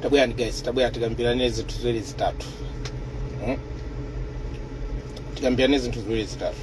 tabwerani guys tabwerani tikambirane zinthu ziwiri zitatu Mm. tikambirane zinthu ziwiri zitatu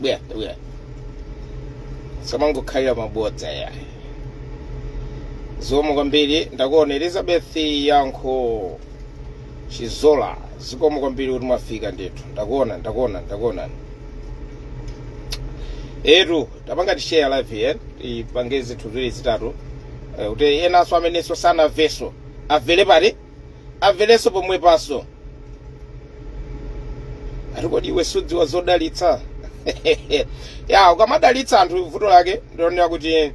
bwera bwera samangokhalira mabodza yayi zikomo kwambiri ndakuona elizabeth yankho chizola zikomo kwambiri kuti mwafika ndetu ndakuona ndakuona ndakuona eyetu tapangani share live here tipange zinthu ziwiri zitatu eh, kuti enanso amenenso sanamvenso amverepo ati amverenso pomwepanso ati kodi iwe sudziwa zodalitsa yah ukamadalitsa anthu vuto lake ndaonera kuti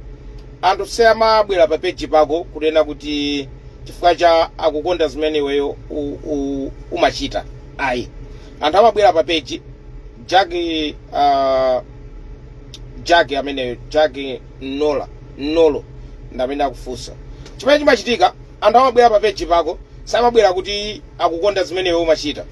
anthu samabwera pa page pako kunena kuti chifukwa cha akukonda zimene iweyo u- u- umachita ayi anthu amabwera pa page jackie uh, jackie ameneyo jackie nola nolo ndi amene akufunsa chimene chimachitika anthu amabwera pa page pako samabwera kuti akukonda zimene iweyo umachita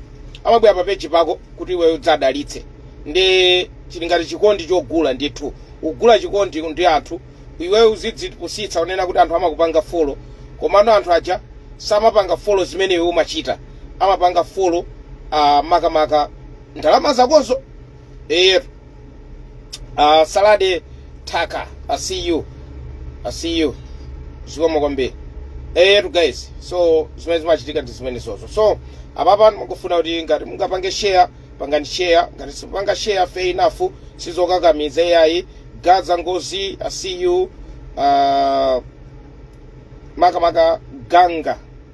amabwera pa page pako kuti iweyo udziwadalitsa ndi chili ngati chikondi chogula ndithu ugula chikondi ndi anthu iweyo uzidzipusitsa kunena kuti anthu amakupanga follow komano anthu aja samapanga follow zimene iweyo umachita amapanga follow uh, makamaka ndalama zakozo eyetu uh, salade taka i see you i see you zikomo kwambiri eyetu guys so zimene zimachitika ndi zimenezozo so apapa ndikufuna kuti ngati mungapange share pangani share ngati simupanga share fair enough sizokakamiza iyayi gaza ngozi i see you uh, makamaka ganga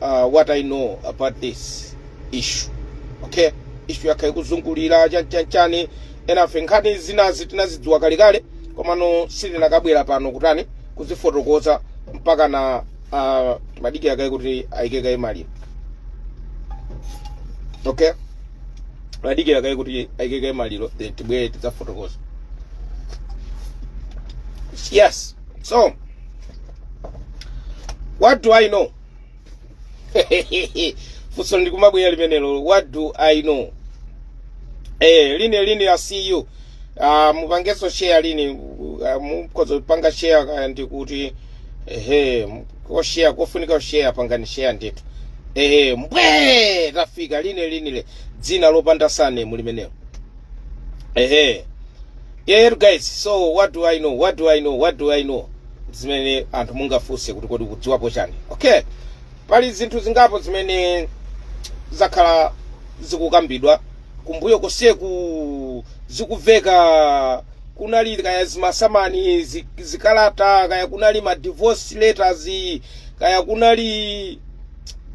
uh, what i know about this issue okay issue yakhala ikuzungulira chanchanchani enafe nkhani zinazi tinazidziwa kalekale komano sitinakabwera pano kutani kuzifotokoza mpaka na uh, timadikira kaye kuti ayike kaye maliro okay timadikira kaye kuti ayike kaye maliro then tibwere tidzafotokoza yes So, what do I know? funso likumabwera limenelo what do i know eh lini lini i see you uh, mupangeso share lini uh, mukhoza kupanga share kaya ndikuti ehe koshare kofunika kushare pangani share ndithu ehe mbwe tafika lini lini le dzina lopanda surname limenelo ehe Eetu guys, so what do I know? What do I know? What do I know? Zimene anthu mungafunse kuti kodi ukudziwapo chani? Okay. Pali zinthu zingapo zimene zakhala zikukambidwa kumbuyo konseku zikuveka kunali kaya zimasamani zi- zikalata kaya kunali ma divorce letters kaya kunali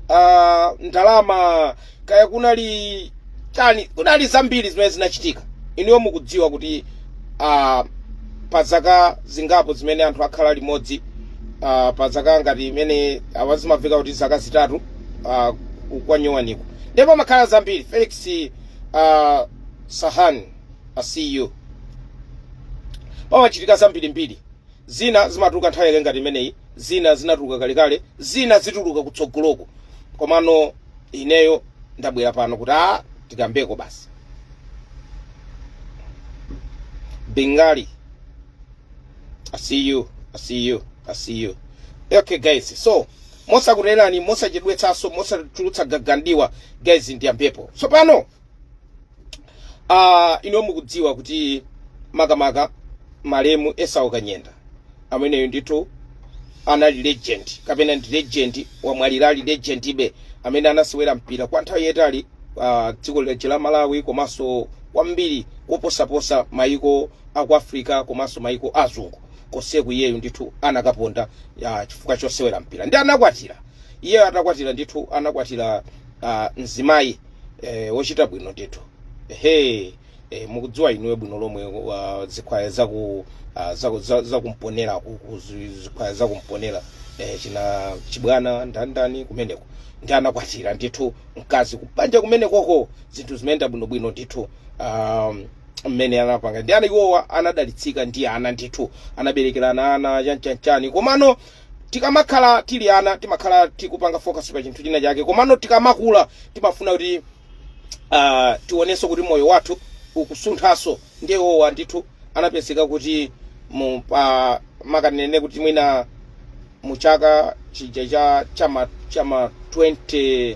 uh, ndalama kaya kunali cha- kunali zambiri zimene zinachitika inuyo mukudziwa kuti uh, pa zaka zingapo zimene anthu akhala limodzi uh, pa zaka ngati imene awa zimaveka kuti zaka zitatu uh, kwanyowaniko ndipo pamakhala zambiri Felix uh, Sahan I see you pamachitika zambirimbiri zina zimatuluka nthawi yake ngati imeneyi zina zinatuluka kalekale zina zituluka kutsogoloku komano ineyo ndabwera pano kuti a tikambeko basi bengali i see you i see you i see you okay guys so mosakuchedwerani mosachedwetsanso mosachulutsa gagadiwa guys ndiyambepo tsopano uh, inuyo mukudziwa kuti makamaka malemu esau kanyenda ameneyu ndithu anali legend kapena ndi legend wamwalira ali legendibe amene anasewera mpira kwa nthawi yayitali uh, dziko lije la malawi komanso kwambiri koposaposa maiko aku africa komanso maiko azungu konseku iyeyu ndithu anakaponda uh, chifukwa chosewera mpira nde anakwatira iyeyo atakwatira ndithu anakwatira uh, mzimayi eh, wochita bwino ndithu ehe eh, mukudziwa inuyo bwino lomwe uh, zikhwaya zaku uh, zaku- za- zakumpoto ku- ku- zi- zikhwaya zakumpoto eh, achina Chibwana ndani ndani kumeneko nde anakwatira ndithu mkazi kubanja kumenekoko zinthu zimayenda bwinobwino ndithu um, mmene anapanga ndi ana iwowa anadalitsika ndi ana ndithu anaberekerana ana chanchanchani komano Tikamakhala tili ana timakhala tikupanga focus pa chinthu china chake, komano tikamakula timafuna kuti ah, tionenso kuti moyo wathu ukusunthanso. Ndiye iwowa ndithu anapezeka kuti mu pa makanene kuti mwina mu chaka chija cha chama chama 20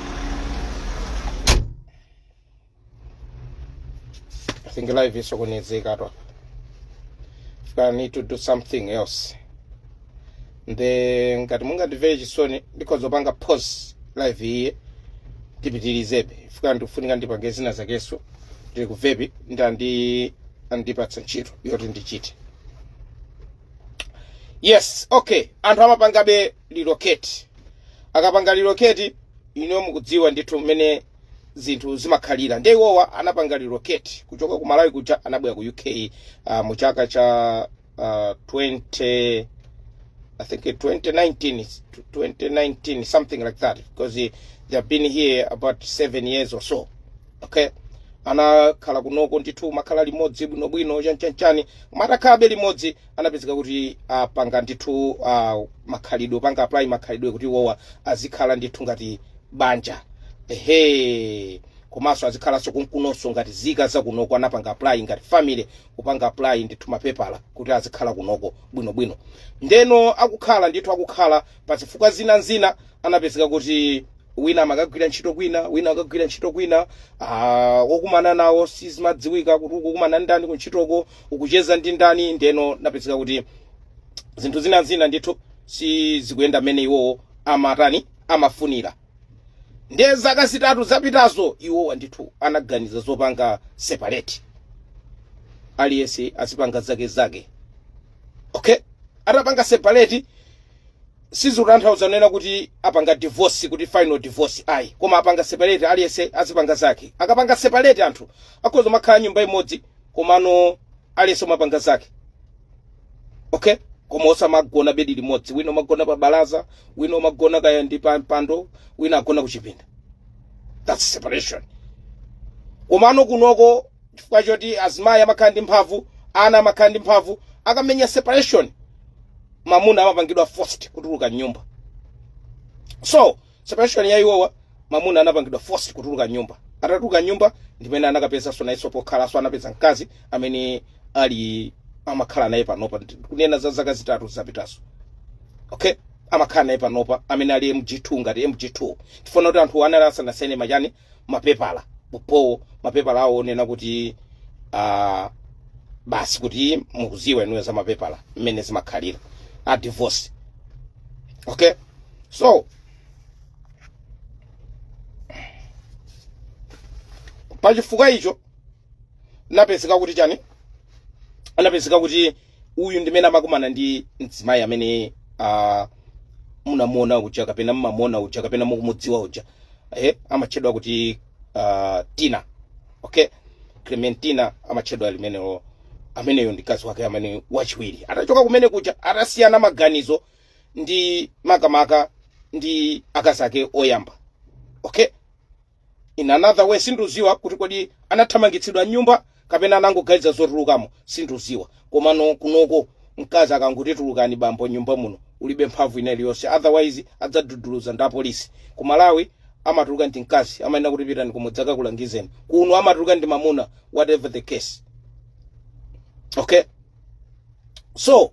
I think live isokonezeka to I need to do something else nde ngati mungandimvere chisoni ndikhoza kupanga pause live iyi ndipitilizebe chifukwa ndikufunika ndipange zina zakenso ndili kuvepi nde andi- andipatsa ntchito yoti ndichite yes okay anthu amapangabe relocate akapanga relocate ino mukudziwa ndithu mmene zinthu zimakhalira nde iwowa anapanga relocate kuchoka ku malawi kuja anabwera ku uk uh, mu chaka cha uh, 20 I think in 2019, it's 2019, something like that, because they, they have been here about seven years or so. Okay, anakhala kunoko ndithu makhala limodzi bwinobwino chanichanichani atakhalabe limodzi anapezeka kuti apanga ndithu uh, makhalidwe opanga apply makhalidwe kuti iwowa azikhala ndithu ngati banja ehe komanso azikhalanso kunkunonso ngati zika zakunoko anapanga apply ngati family kupanga apply ndithu mapepala kuti azikhala kunoko bwinobwino ndeno akukhala ndithu akukhala pa zifukwa zina ndi zina anapezeka kuti wina amakagwira ntchito kwina wina akagwira ntchito kwina ah, okumana nawo sizimadziwika kuti ukukumana ndi ndani kuntchitoko ukucheza ndi ndani ndeno napezeka kuti zinthu zina zina ndithu sizikuyenda mmene iwowo amatani amafunira ndiye zaka zitatu zapitazo iwowa ndithu anaganiza zopanga separate aliyense azipanga zake zake okay atapanga separate sizikutanthauza kunena kuti apanga divorce kuti final divorce ayi koma apanga separate aliyense azipanga zake akapanga separate anthu akhoza kumakhala nyumba imodzi komano aliyense kumapanga zake okay koma osamagona bedi limodzi wina kumagona pa balaza wina kumagona kaya ndi pa mpando wina agona kuchipinda that's separation komano kunoko chifukwa choti azimayi amakhala ndi mphamvu ana amakhala ndi mphamvu akamenya separation mamuna amapangidwa forced kutuluka m'nyumba so separation ya iwowa mamuna anapangidwa forced kutuluka m'nyumba atatuluka m'nyumba ndimene anakapezanso nayenso pokhalanso anapeza mkazi amene ali amakhala naye panopa ndi- kunena za zaka zitatu zapitazo okay amakhala naye panopa amene ali mg2 ngati mg2 chifukwa kuti anthu anali asanasaine machani mapepala pompo mapepala awo onena kuti uh, basi kuti mukuziwa inuyo za mapepala mmene zimakhalira a divorce okay so pachifukwa icho anapezeka kuti chani anapezeka kuti uyu ndimene amakumana ndi mzimayi amene uh, munamuona uja kapena mmamuona uja kapena mukumudziwa uja eh, amatchedwa kuti uh, tina okay clementina amatchedwa limenelo ameneyo ndi mkazi wake amene wachiwiri atachoka kumene kuja atasiyana maganizo ndi makamaka ndi akazi ake oyamba okay in another way sinduziwa kuti kodi anathamangitsidwa mnyumba kapena anangoganiza zotulukamo sinduziwa komano kunoko mkazi akangoti tulukani bambo nyumba muno ulibe mphamvu ina iliyonse otherwise adzakududuluza ndi apolisi ku malawi amatuluka ndi mkazi amanena kuti pitani kumudzi akakulangizeni kuno amatuluka ndi mamuna whatever the case okay so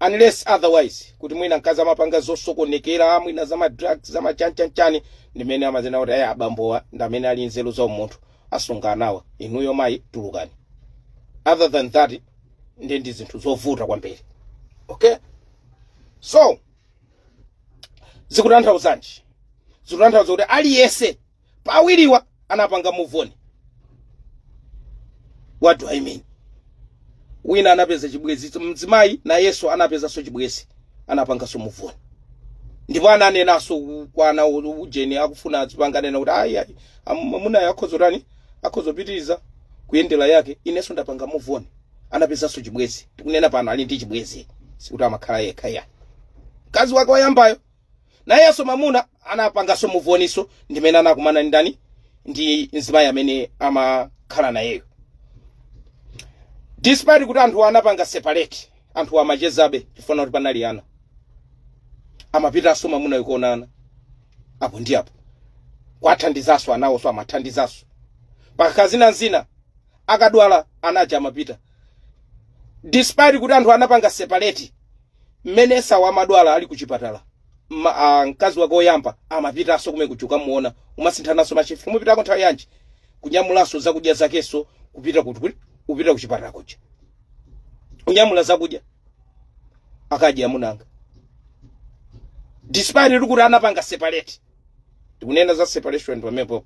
unless otherwise kuti mwina mkazi amapanga zosokonekera mwina za madrugs za machanichanichani ndimene amadzanena kuti ayi abambowa ndi amene ali nzeru za umunthu asunge anawa inuyo mayi tulukani other than that ndi ndi zinthu zovuta kwambiri okay so zikutanthauza chani zikutanthauza kuti aliyense pa awiriwa anapanga move on what do i mean wina anapeza chibwenzi mzimayi nayenso anapezanso chibwenzi anapanganso move on ndipo ananenanso ku- kwa ana u- ujeni akufuna azipanga nena kuti ayi ayi am- amunayo akhozotani akhozopitiriza kuyendera yake inenso ndapanga move on anapezanso chibwenzi tikunena pano ali ndi chibwenzi sikuti amakhala yekha ayi mkazi wake wayambayo nayenso mamuna anapanganso move on-nso ndimene anakumana ndi ndani ndi mzimayi amene amakhala nayeyo despite kuti anthuwa anapanga separate anthuwa amachezabe chifukwa choti panali ana amapitanso mamuna uja kukaona ana apo ndi apo kwathandizanso anawonso amathandizanso pakakhala zina zina akadwala anaja amapita despite kuti anthu anapanga separate mmene esau amadwala ali kuchipatala ma, a, mkazi wake woyamba amapitanso kumene kuja ukamuona kumasinthananso mashift mupitako nthawi yanji kunyamulanso zakudya zakenso kupita kuti kuti upita kuchipatala kuja kunyamula zakudya akadya mwina nanga despite kuti anapanga separate tikunena za separation pamenepo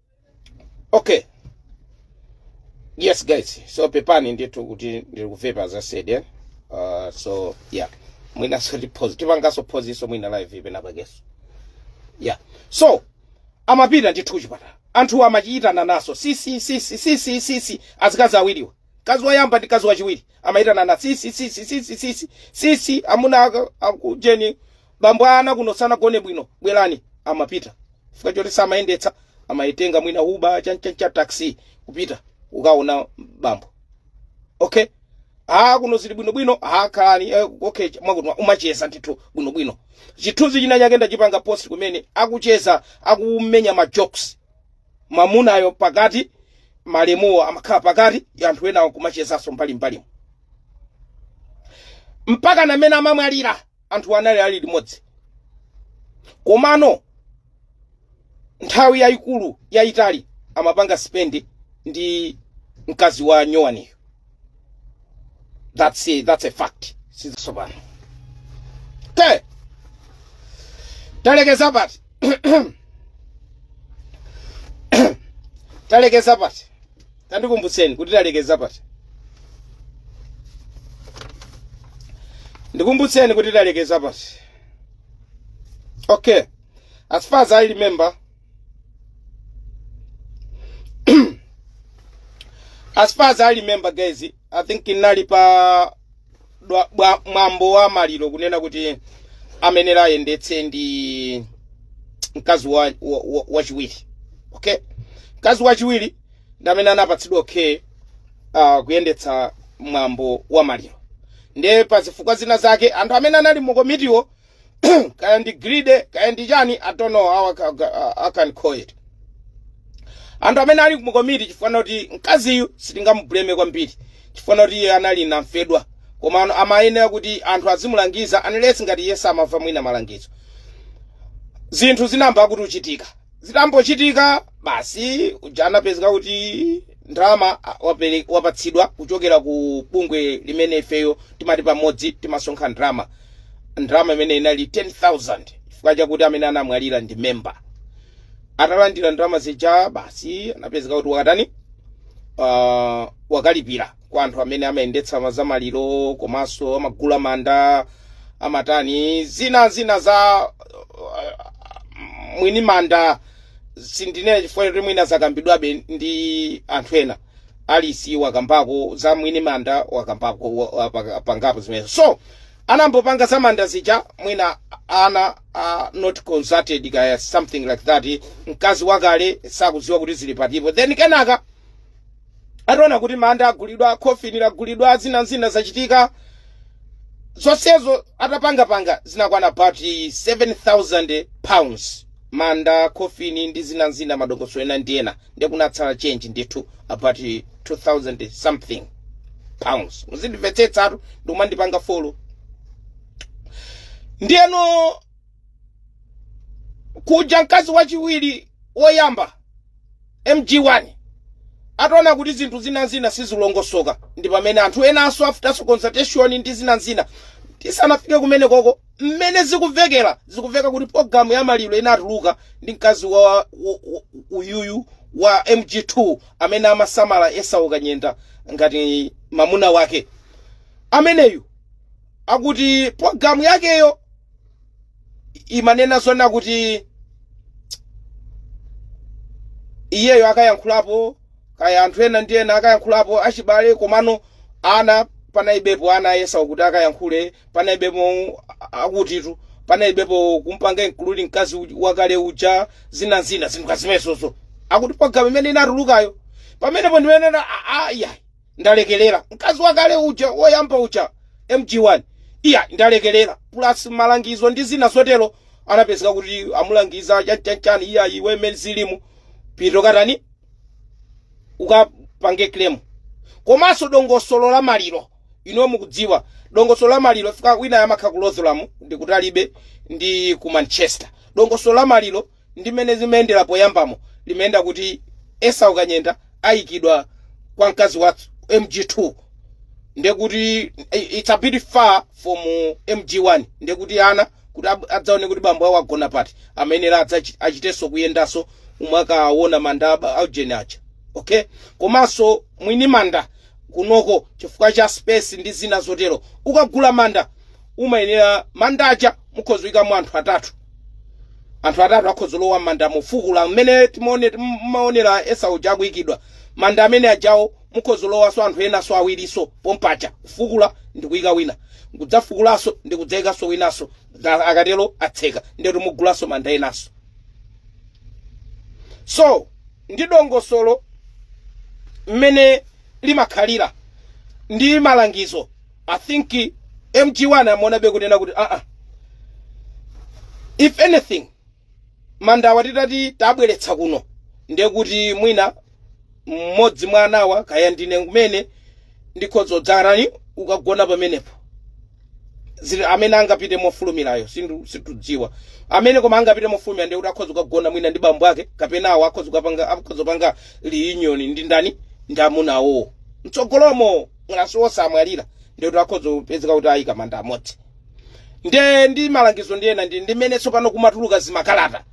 okay yes guys so pepani ndithu kuti ndiri kuvepa as I said eh? uh, so yeah mwinaso tipause tipangenso pausenso mwina live ife penapakenso yeah so amapita ndithu kuchipatala anthu amachita kuyitanananso sisi sisi sisi sisi azikazi awiriwa mkazi woyamba ndi mkazi wachiwiri amayitanana sisi sisi sisi sisi sisi amuna aka- akujeni bambo a ana kuno sanagone bwino bwerani amapita chifukwa choti samayendetsa amatenga mwina uber chanichani taxi kupita kukaona bambo okay ah kuno zili bwinobwino ah khalani eh, okay mwakuti kumacheza ndithu bwinobwino chithunzi china chake ndachipanga post kumene akucheza akumenya ma jokes mamunayo pakati malemuwo amakhala pakati anthu enawo kumachezanso mbali mbalimu mpaka ndimmene amamwalira anthuwa anali ali limodzi komano nthawi yayikulu yayitali amapanga spend ndi mkazi wa nyuwaniyo that's a, that's a fact sizatsopano okay talekeza pati talekeza pati tandikumbutseni kuti talekeza pati ndikumbutseni kuti talekeza pati okay as far as i remember as far as i remember guys i think inali pa dwa- bwa- mwambo wa maliro kunena kuti amene amayenera ayendetse ndi mkazi wa, wa, wa, wachiwiri okay mkazi wachiwiri ndi amene anapatsidwa okay uh, kuyendetsa mwambo wa maliro ndiye pa zifukwa zina zake anthu amene anali mu komitiwo kaya ndi gride kaya ndi chani i don't know how I ca- ca- I can call it anthu amene ali mu komiti chifukwa choti mkaziyu sitingamubuleme kwambiri chifukwa choti iye anali namfedwa koma ano amayenera kuti anthu azimulangiza unless ngati iye samamva mwina malangizo zinthu zinayamba kuchitika zitangochitika basi uja anapezeka kuti ndalama a- wapele- wapatsidwa kuchokera ku bungwe limene ifeyo timati pamodzi timasonkha ndalama ndalama imene inali 10000 chifukwa chakuti amene anamwalira ndi memba atalandira ndalama zija basi anapezeka kuti wakatani uh, wakalipira kwa anthu amene amayendetsa ma- za maliro komanso amagula manda amatani zina zina za uh, mwini manda sindinene chifukwa choti mwina zakambidwabe ndi anthu ena Alice wakambako za mwini manda wakambako wa- wa- pa- pangapo zimenezo so anambopanga za manda zija mwina ana uh, not consulted kaya something like that mkazi wakale sakudziwa kuti zili patipo then kenaka ataona kuti manda agulidwa khofini lagulidwa zina n'zina zachitika zonsezo atapangapanga zinakwana about 7000 pounds manda khofini ndi zina n'zina madongosolo ena ndi ena ndiye kunatsala change ndithu about 2000 something pounds muzindimvetsetsatu ndikumandipanga folo ndiyeno kuja mkazi wachiwiri woyamba mg1 ataona kuti zinthu zinanzina sizilongosoka ndi pamene anthu enanso after consultation ndi zinanzina tisanafike kumene koko mmene zikuvekera zikuveka kuti programu ya maliro inatuluka ndi mkazi wa wa- wa- uyuyu wa mg2 amene amasamala Esau Kanyenda ngati mamuna wake ameneyu akuti programu yakeyo imanena zona kuti iyeyo akayankhulapo kaya anthu ena ndi ena akayankhulapo achibale komano ana panaibepo ana ayesa kuti akayankhule panaibepo akutitu panaibepo kumpanga including mkazi uj- wakale uja zina zina zinthu kazimezozo akuti programu imene inatulukayo pamenepo ndimanena ayi ndalekelera mkazi wakale uja woyamba uja mg1 iyayi ndalekelera plus malangizo ndi zina zotero anapezeka kuti amulangiza chanchanchani iyayi iwe mmene zililimu pita katani ukapange claim komanso dongosolo la maliro inu mukudziwa dongosolo la maliro fika wina amakhala ku Rotherham ndi kutalibe ndi ku manchester dongosolo la maliro Ndi mmene zimayendera poyambamo limayenda kuti Esau Kanyenda aikidwa kwa mkazi wa MG2 ndiye kuti i- it's a bit far from MG1 ndiye kuti ana kuti ab- adzaone kuti bambo awo agona pati amayenera adzachi- achitenso kuyendanso mmene akaona manda aba- aujeni aja okay komanso mwini manda kunoko chifukwa cha space ndi zina zotero ukagula manda umayenera manda aja mukhoza kuyikamo anthu atatu anthu atatu akhoza lowa manda mofukula mmene timaone timaonera esau uja akuyikidwa manda amene ajawo mukhoza lowaso anthu enaso awiriso pompaja kufukula ndi kuyika wina kudzafukulaso ndi kudzayikaso winaso Nga- akatero atseka ndiye kuti mugulaso manda enaso so ndi dongosolo mmene limakhalira ndi malangizo I think eh, MG1 amaona be kunena kuti aa if anything mandawa titati tabweretsa kuno ndiye kuti mwina mmodzi mwa anawa kaya ndine kumene ndikhoza kudzarani ukagona pamenepo zili amene angapite mofulumirayo sindu- situdziwa amene koma angapite mofulumira ndiye kuti akhoza kukagona mwina ndi bambo ake kapena awo akhoza kukapanga akhoza kupanga reunion ndi ndani ndi amuna awowo mtsogolomo ngati nawonso amwalira ndiye kuti akhoza kupezeka kuti ayika manda amodzi nde ndi malangizo ndi ena ndi mmene tsopano kumatuluka zimakalata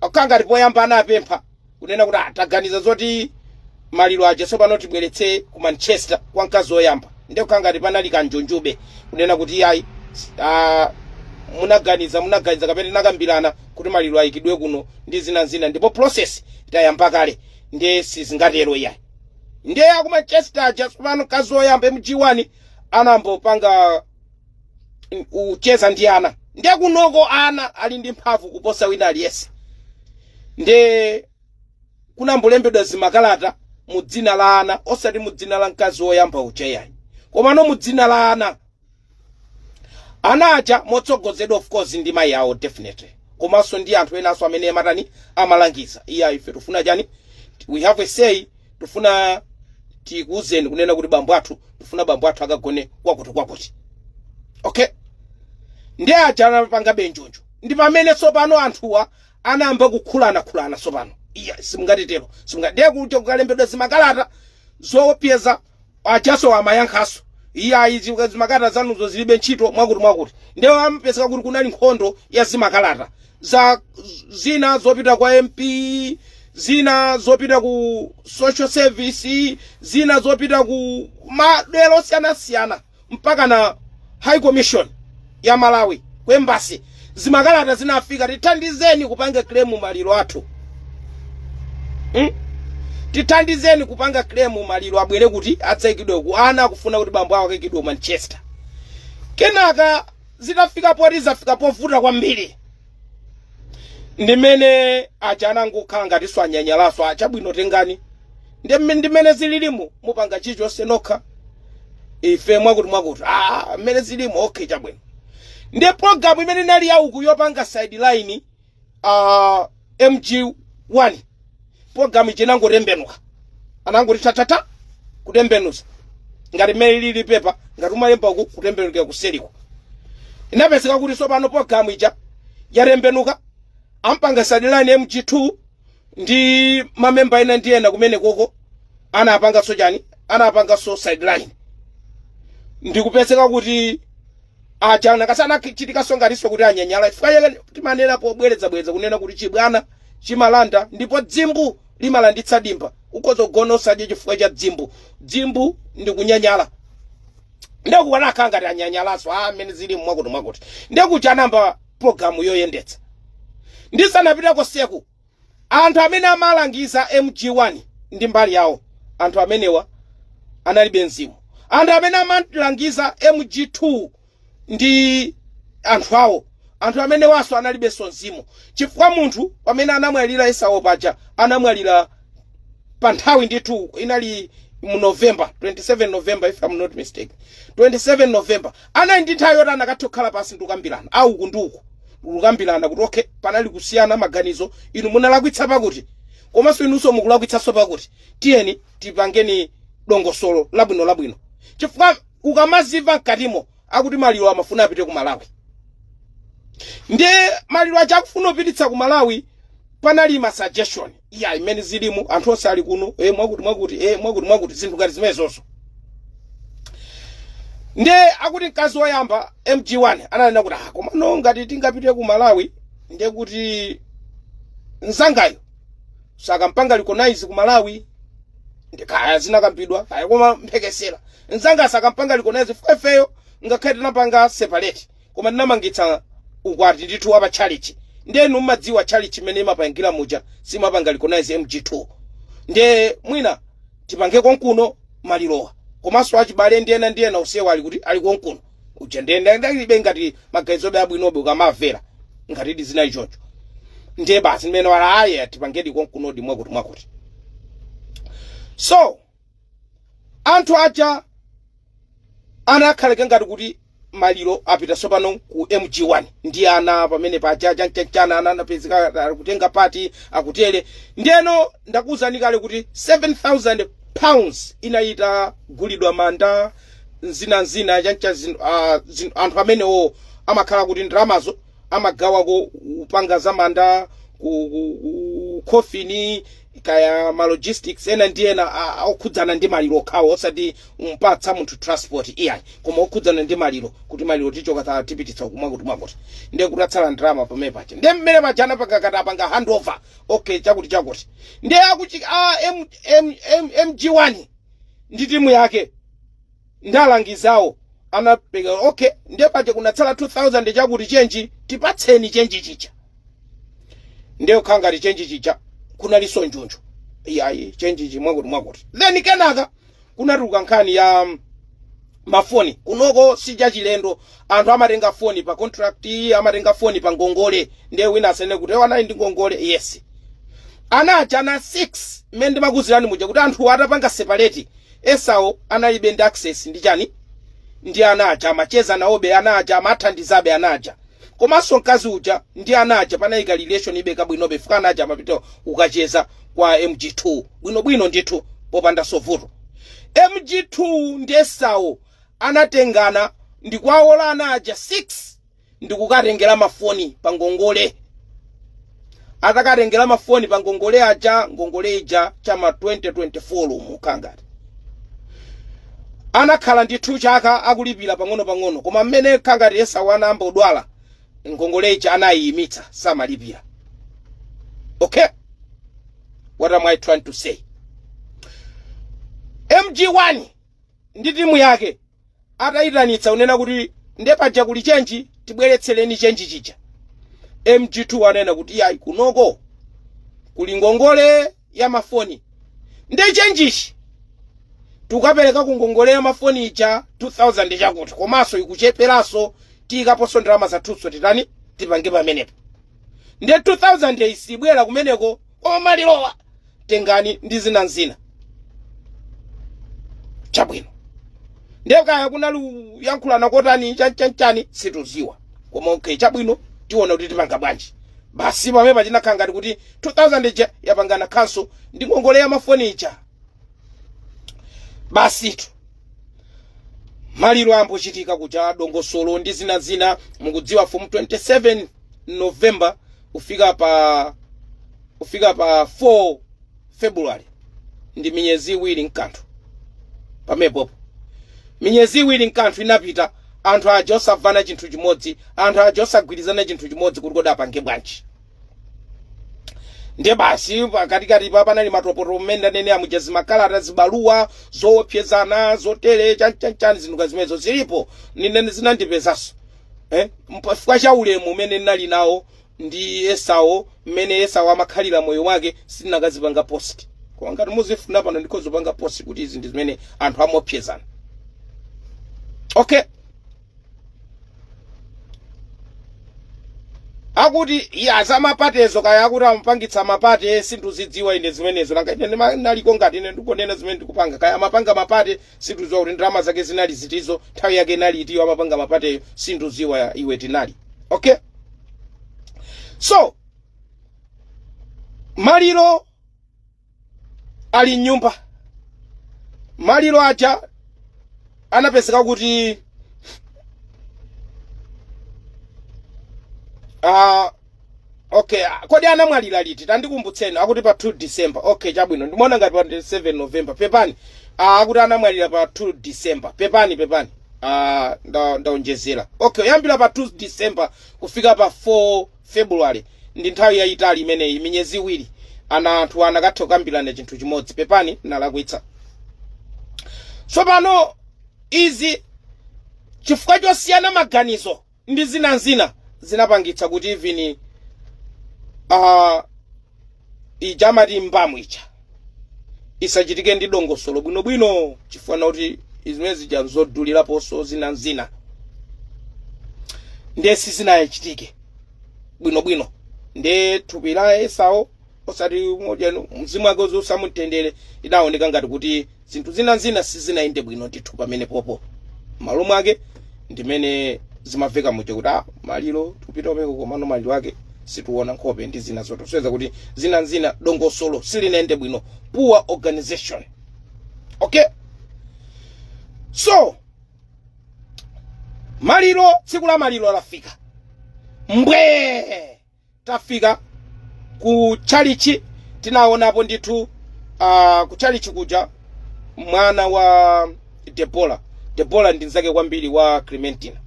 akangati poyamba anapempha kunena kuti ataganiza zoti maliro aja tsopano tibweretse ku manchester kwa mkazi woyamba nde kukangati panali kanjonjube kunena kuti ayi ah, munaganiza munaganiza kapena tinakambirana kuti maliro ayikidwe kuno ndi zina zina ndipo process itayamba kale ndiye sizingatero iyayi ndiye aku manchester aja tsopano mkazi oyamba mg1 anayambo panga mm, ucheza ndi ana ndiye kunoko ana ali ndi mphamvu kuposa wina aliyense ndiye kunayambo lembedwa zimakalata mu dzina la ana osati mu dzina la mkazi woyamba uja yayi komano mu dzina la ana ana aja motsogozedwa of course ndi mayi awo definitely komanso ndi anthu enanso amene amatani amalangiza iya ife tufuna chani we have a say tufuna tikuuzeni kunena kuti bambo athu tufuna bambo athu akagone kwakuti kwakuti okay ndi aja anapanga benjonjo ndi pamene tsopano anthuwa anayamba kukhulanakhulana tsopano iya simungatitero simungatidekuti kukalembedwa zimakalata zopyeza ajanso amayankhanso iyayi izi zimakalata zanuzo zilibe ntchito mwakuti mwakuti ndiye amapezeka kuti kunali nkhondo ya zimakalata za zina zopita kwa mp zina zopita ku social service zina zopita ku madera osiyanasiyana mpaka na high commission ya malawi ku embassy zimakalata zinafika tithandizeni kupanga claim maliro athu hmm? tithandizeni kupanga claim maliro abwere kuti adzaikidwe ku ana akufuna kuti bambo awo akaikidwe ku manchester kenaka zitafika poti zafika povuta kwambiri ndimene aja anangokhala ngati anyanyalanso chabwino tengani Ndime- ndimene zililimu mupanga chilichonse nokha ife mwakuti mwakuti ah, mmene zilimu okay chabwino ndi programu imene inali yauku yopanga sideline uh, mg1 program ija inangotembenuka anangoti tatata kutembenuza ngati mmene lili pepa ngati umalemba uku kutembenukira kuseliko inapezeka kuti tsopano program ija yatembenuka ampanga sideline mg2 ndi mamemba ena ndi ena kumene koko anapanganso chani anapanganso sideline ndikupezeka kuti aja ana aja anachitanso ngatinso kuti anyanyala chifukwa chake timanena pobwerezabwereza kunena kuti chibwana chimalanda ndipo dzimbu limalanditsa dimba ukhoza kugona usadye chifukwa cha dzimbu dzimbu ndi kunyanyala ndekuti ana akhala ngati anyanyalanso mmene zilimu mwakuti mwakuti ndekuti anayamba programu yoyendetsa ndisanapitako seku Anthu amene amalangiza MG1 ndi mbali yawo, anthu amenewa analibe mzimu. Anthu amene amalangiza MG2 ndi anthu awo, anthu amenewanso analibenso mzimu, chifukwa munthu pamene anamwalira Esau paja anamwalira pa nthawi ndithu, inali mu November, 27 November if I'm not mistaken, 27 November. Anali ndi nthawi yoti anakatha kukhala pansi ndi kukambirana, a uku ndi uku, ndikukambirana kuti okay, panali kusiyana maganizo, inu munalakwitsa pakuti, komanso inunso mukulakwitsanso pakuti, tiyeni tipangeni dongosolo labwino labwino. Chifukwa ukamazimva mkatimo akuti maliro amafuna apite ku Malawi. Ndi maliro aja akufuna kupititsa ku Malawi, panali ma suggestion. iya imene zilimu anthu onse ali kuno eh, mwakuti mwakuti eh, mwakuti mwakuti zinthu ngati zimenezoso nde akuti mkazi woyamba mg1 ananena kuti ah, komano ngati tingapite ku malawi nde kuti mzangayo sakampanga recognize ku malawi ndi kaya zinakambidwa kaya koma mphekesera mzanga sakampanga recognize ifeyo ngakhale tinapanga separate Koma ndinamangitsa ukwati ndithu wa pa tchalitchi. Ndiye inu mukudziwa tchalitchi mmene imapangira muja simapanga recognize MG2. Ndiye mwina tipange konkuno malirowa. Komanso achibale ndi ena ndi ena onsewa ali kuti ali konkuno. Uja ndiye nda- anali ngati maganizobe abwinobe ukamamvera ngatidi zinali choncho. Ndiye basi mmene wa- aye tipangedi konkunodi mwakuti mwakuti. So Anthu aja anakhalako ngati kuti maliro apita tsopano ku MG1 ndi ana pamene paja chanchanchana ana anapezeka akutenga part akutere ndiyeno ndakuwuzani kale kuti 7000 pounds inali itagulidwa manda nzina nzina chancha zin- ah, zin- anthu amenewo amakhala kuti ndalamazo amagawako kupanga za manda ku, ku, ku coffin kaya ma logistics ena ndi ena a- a- okhudzana ndi maliro okhawo osati umpatsa munthu transport iyayi koma okhudzana ndi maliro kuti maliro tichoka ta- tipititsa uku mwakuti mwakuti ndiye kutatsala ndalama pamene paja ndiye mmene paja anapanga kuti atapanga handover okay chakuti chakuti ndiye akuti a M- M- M- mg1 ndi timu yake nde alangizi awo anapereka ok nde paja kunatsala 2000 chakuti chenji tipatseni chenji chija nde kukhala ngati chenji chija kunalinso njuju iyayi chenji chi mwakuti mwakuti then kenaka kunatuluka nkhani ya um, mafoni kunoko sichachilendo anthu amatenga foni pa contract amatenga foni pa ngongole nde wina asanene kuti ana ali ndi ngongole yes ana aja ana 6 mmene ndimakuuzirani muja kuti anthu atapanga separate Esau analibe ndi access ndi chani? Ndi ana aja amacheza nawobe ana aja amathandizabe ana aja. Komanso mkazi uja ndi ana aja panali ka relationibe kabwinobe chifukwa ana aja amapita ukacheza kwa MG2 bwinobwino ndithu popanda so vuto. MG2 ndi Esau anatengana ndikuwawola ana aja 6 ndikukawatengera mafoni pa ngongole. Atakawatengera mafoni pa ngongole aja, ngongole ija cha ma 2024 mukhangati anakhala ndithu chaka akulipira pang'ono-pang'ono koma mmene kha ngati Esau anayamba kudwala ngongole ija anayiyimitsa samalipira okay what am i trying to say mg1 ndi timu yake atayitanitsa kunena kuti nde paja kuli chenji tibweretsereni chenji chija mg2 anena kuti yayi kunoko kuli ngongole ya mafoni nde chenjichi tukapereka ku ngongole ya mafoni ija 2000 chakuti komanso ikucheperanso tiikaponso ndalama zathuso titani tipange pamenepo nde 2000 isibwera kumeneko koma malirowa tengani ndi zina nzina chabwino ndiye kaya kunali kuyankhulana kotani chanchanchani situziwa koma okay chabwino tiona kuti tipanga bwanji basi pamenepa chinakhala ngati kuti 2000 ija yapangana khanso ndi ngongole ya mafoni ija basitu maliro ambochitika kuja dongosolo ndi zina zina mukudziwa from 27 november kufika pa kufika pa 4 february ndi minyezi iwiri nkanthu pamepopo minyezi iwiri nkanthu inapita anthu aja osavana chinthu chimodzi anthu aja osagwirizana chinthu chimodzi kuti kodi apange bwanji ndiye basi pakatikati pa panali mapotopoto mmene ndanene amuja zimakalata zibaluwa zoopsezana zotere chanchanchani zinthu zimenezo zilipo nine zinandipezanso eh, nchifukwa cha ulemu umene ndinali nawo ndi esau mmene esau amakhalira moyo wake sindinakazipanga post koma ngati muzifuna pano ndikozipanga post kuti izi ndi zimene anthu amaopsezana okay akuti eya zamapatezo kaya akuti amapangitsa mapate sindikuzidziwa ine zimenezo nanga ine ndima- naliko ngati ine ndikonena zimene ndikupanga kaya amapanga mapate Sinduziwa kuti ndalama zake zinali zitizo, nthawi yake inali itiyo amapanga mapateyo, sinduziwa iwe tinali. Okay? So, maliro ali mnyumba. Maliro aja anapezeka kuti ah Okay, ah, kodi anamwalira liti? Tandikumbutseni. Akuti pa 2 December. Okay, chabwino. Ndimaona ngati pa 7 November. Pepani. Ah, akuti anamwalira pa 2 December. Pepani, pepani. Ah, nda ndaonjezera. Okay, kuyambira pa 2 December kufika pa 4 February. Ndi nthawi yayitali imeneyi, minyezi iwiri. Ana anthu anakatha kukambirana chinthu chimodzi. Pepani, nalakwitsa. So pano izi chifukwa chosiyana maganizo ndi zina nzina zinapangitsa kuti even uh, ija amati mbamu ija isachitike ndi dongosolo bwinobwino chifukwa kuti zimene zija nzoduliraponso zina nzina ndiye sizinachitike bwinobwino ndiye thupi la esau osati mojanu mzimu wake uziusa mu mtendere idaoneka ngati kuti zinthu zina zina sizinayende bwino ndithu pamene popo m'malo mwake ndimene zimaveka muja kuti ah maliro tikupita kumeneko komano maliro ake situona nkhope ndi zina zoto kusonyeza kuti zina zina dongosolo silinayende bwino poor organization okay so maliro tsiku la maliro lafika mbwee Tafika ku tchalitchi, tinawonapo ndithu, a, ku tchalitchi kuja, mwana wa Debora, Debora ndi mzake kwambiri wa Clementina,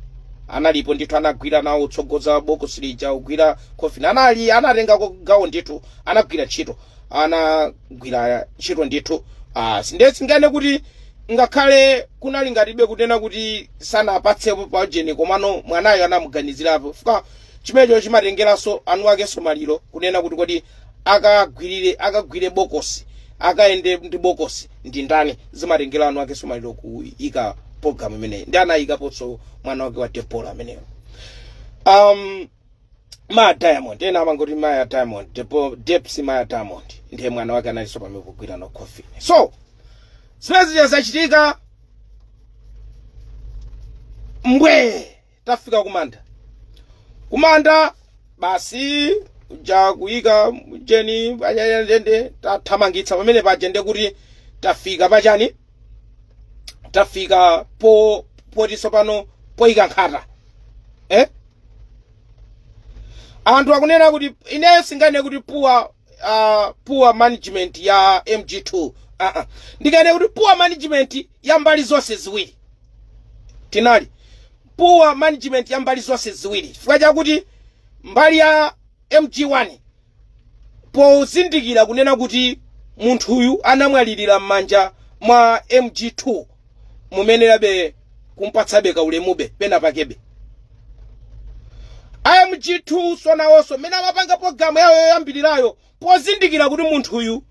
analipo ndithu, anagwira nawo kutsogoza bokosi lija, kugwira coffin, anatengako gawo ndithu, anagwira ntchito, anagwira ntchito ndithu. A, sindingakane kuti ngakhale kunali ngati kunena kuti sanapatsepo pa ujeni, komano mwanayo anamuganizirapo chifukwa chimenecho chimatengeranso eni akenso maliro kunena kuti kodi akagwirire akagwire bokosi akayende ndi bokosi ndi ndani zimatengera eni akenso maliro kuika pologalamu imeneyi ndi anayikaponso mwana wake wa debora ameneyo um, maya diamond ena amangoti maya diamond depo depsi maya diamond ndiye mwana wake analinso pamenepo kugwira nawo coffin so zimene zija zachitika mbwee tafika kumanda kumanda basi ija kuyika ujeni anyanya ndiye nde tathamangitsa pamene paja nde kuti tafika pachani tafika po poti tsopano poyika nkhata eh? anthu akunena kuti ineyo sindinganene kuti poor uh, poor management ya mg2 uh -uh. ndikanene kuti poor management ya mbali zonse ziwiri inali poor management ya mbali zonse ziwiri chifukwa chakuti mbali ya mg1 pozindikira kunena kuti munthuyu anamwalirira m'manja mwa mg2 mumayenerabe kumpatsabe kaulemube pena pakebe a mg2 so nawonso mmene amapanga pologalamu yawo yoyambirirayo pozindikira kuti munthuyu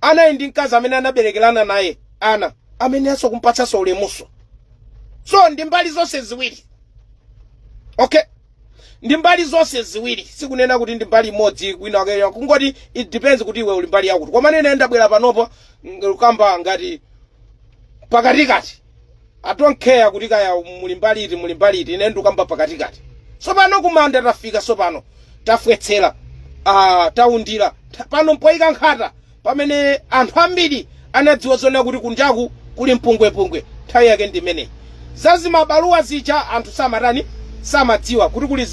anali ndi mkazi amene anaberekerana naye ana amayeneranso kumpatsanso ulemuso so ndi mbali zonse ziwiri okay ndi mbali zonse ziwiri sikunena kuti ndi mbali imodzi wina aliyense kungoti it depends kuti iwe uli mbali yakuti koma ine ndabwera panopo ndikukamba ngati pakatikati i don't care kuti kaya muli mbali iti muli mbali iti ine ndikamba pakatikati tsopano kumanda tafika tsopano tafotsera ah, taundira Ta- pano mpoyika nkhata Pamene anthu ambiri anadziwa zoona kuti kunjaku kuli mpungwepungwe, nthawi yake ndi imeneyi. Za zimabaluwa zija anthu samatani, samadziwa kuti kuli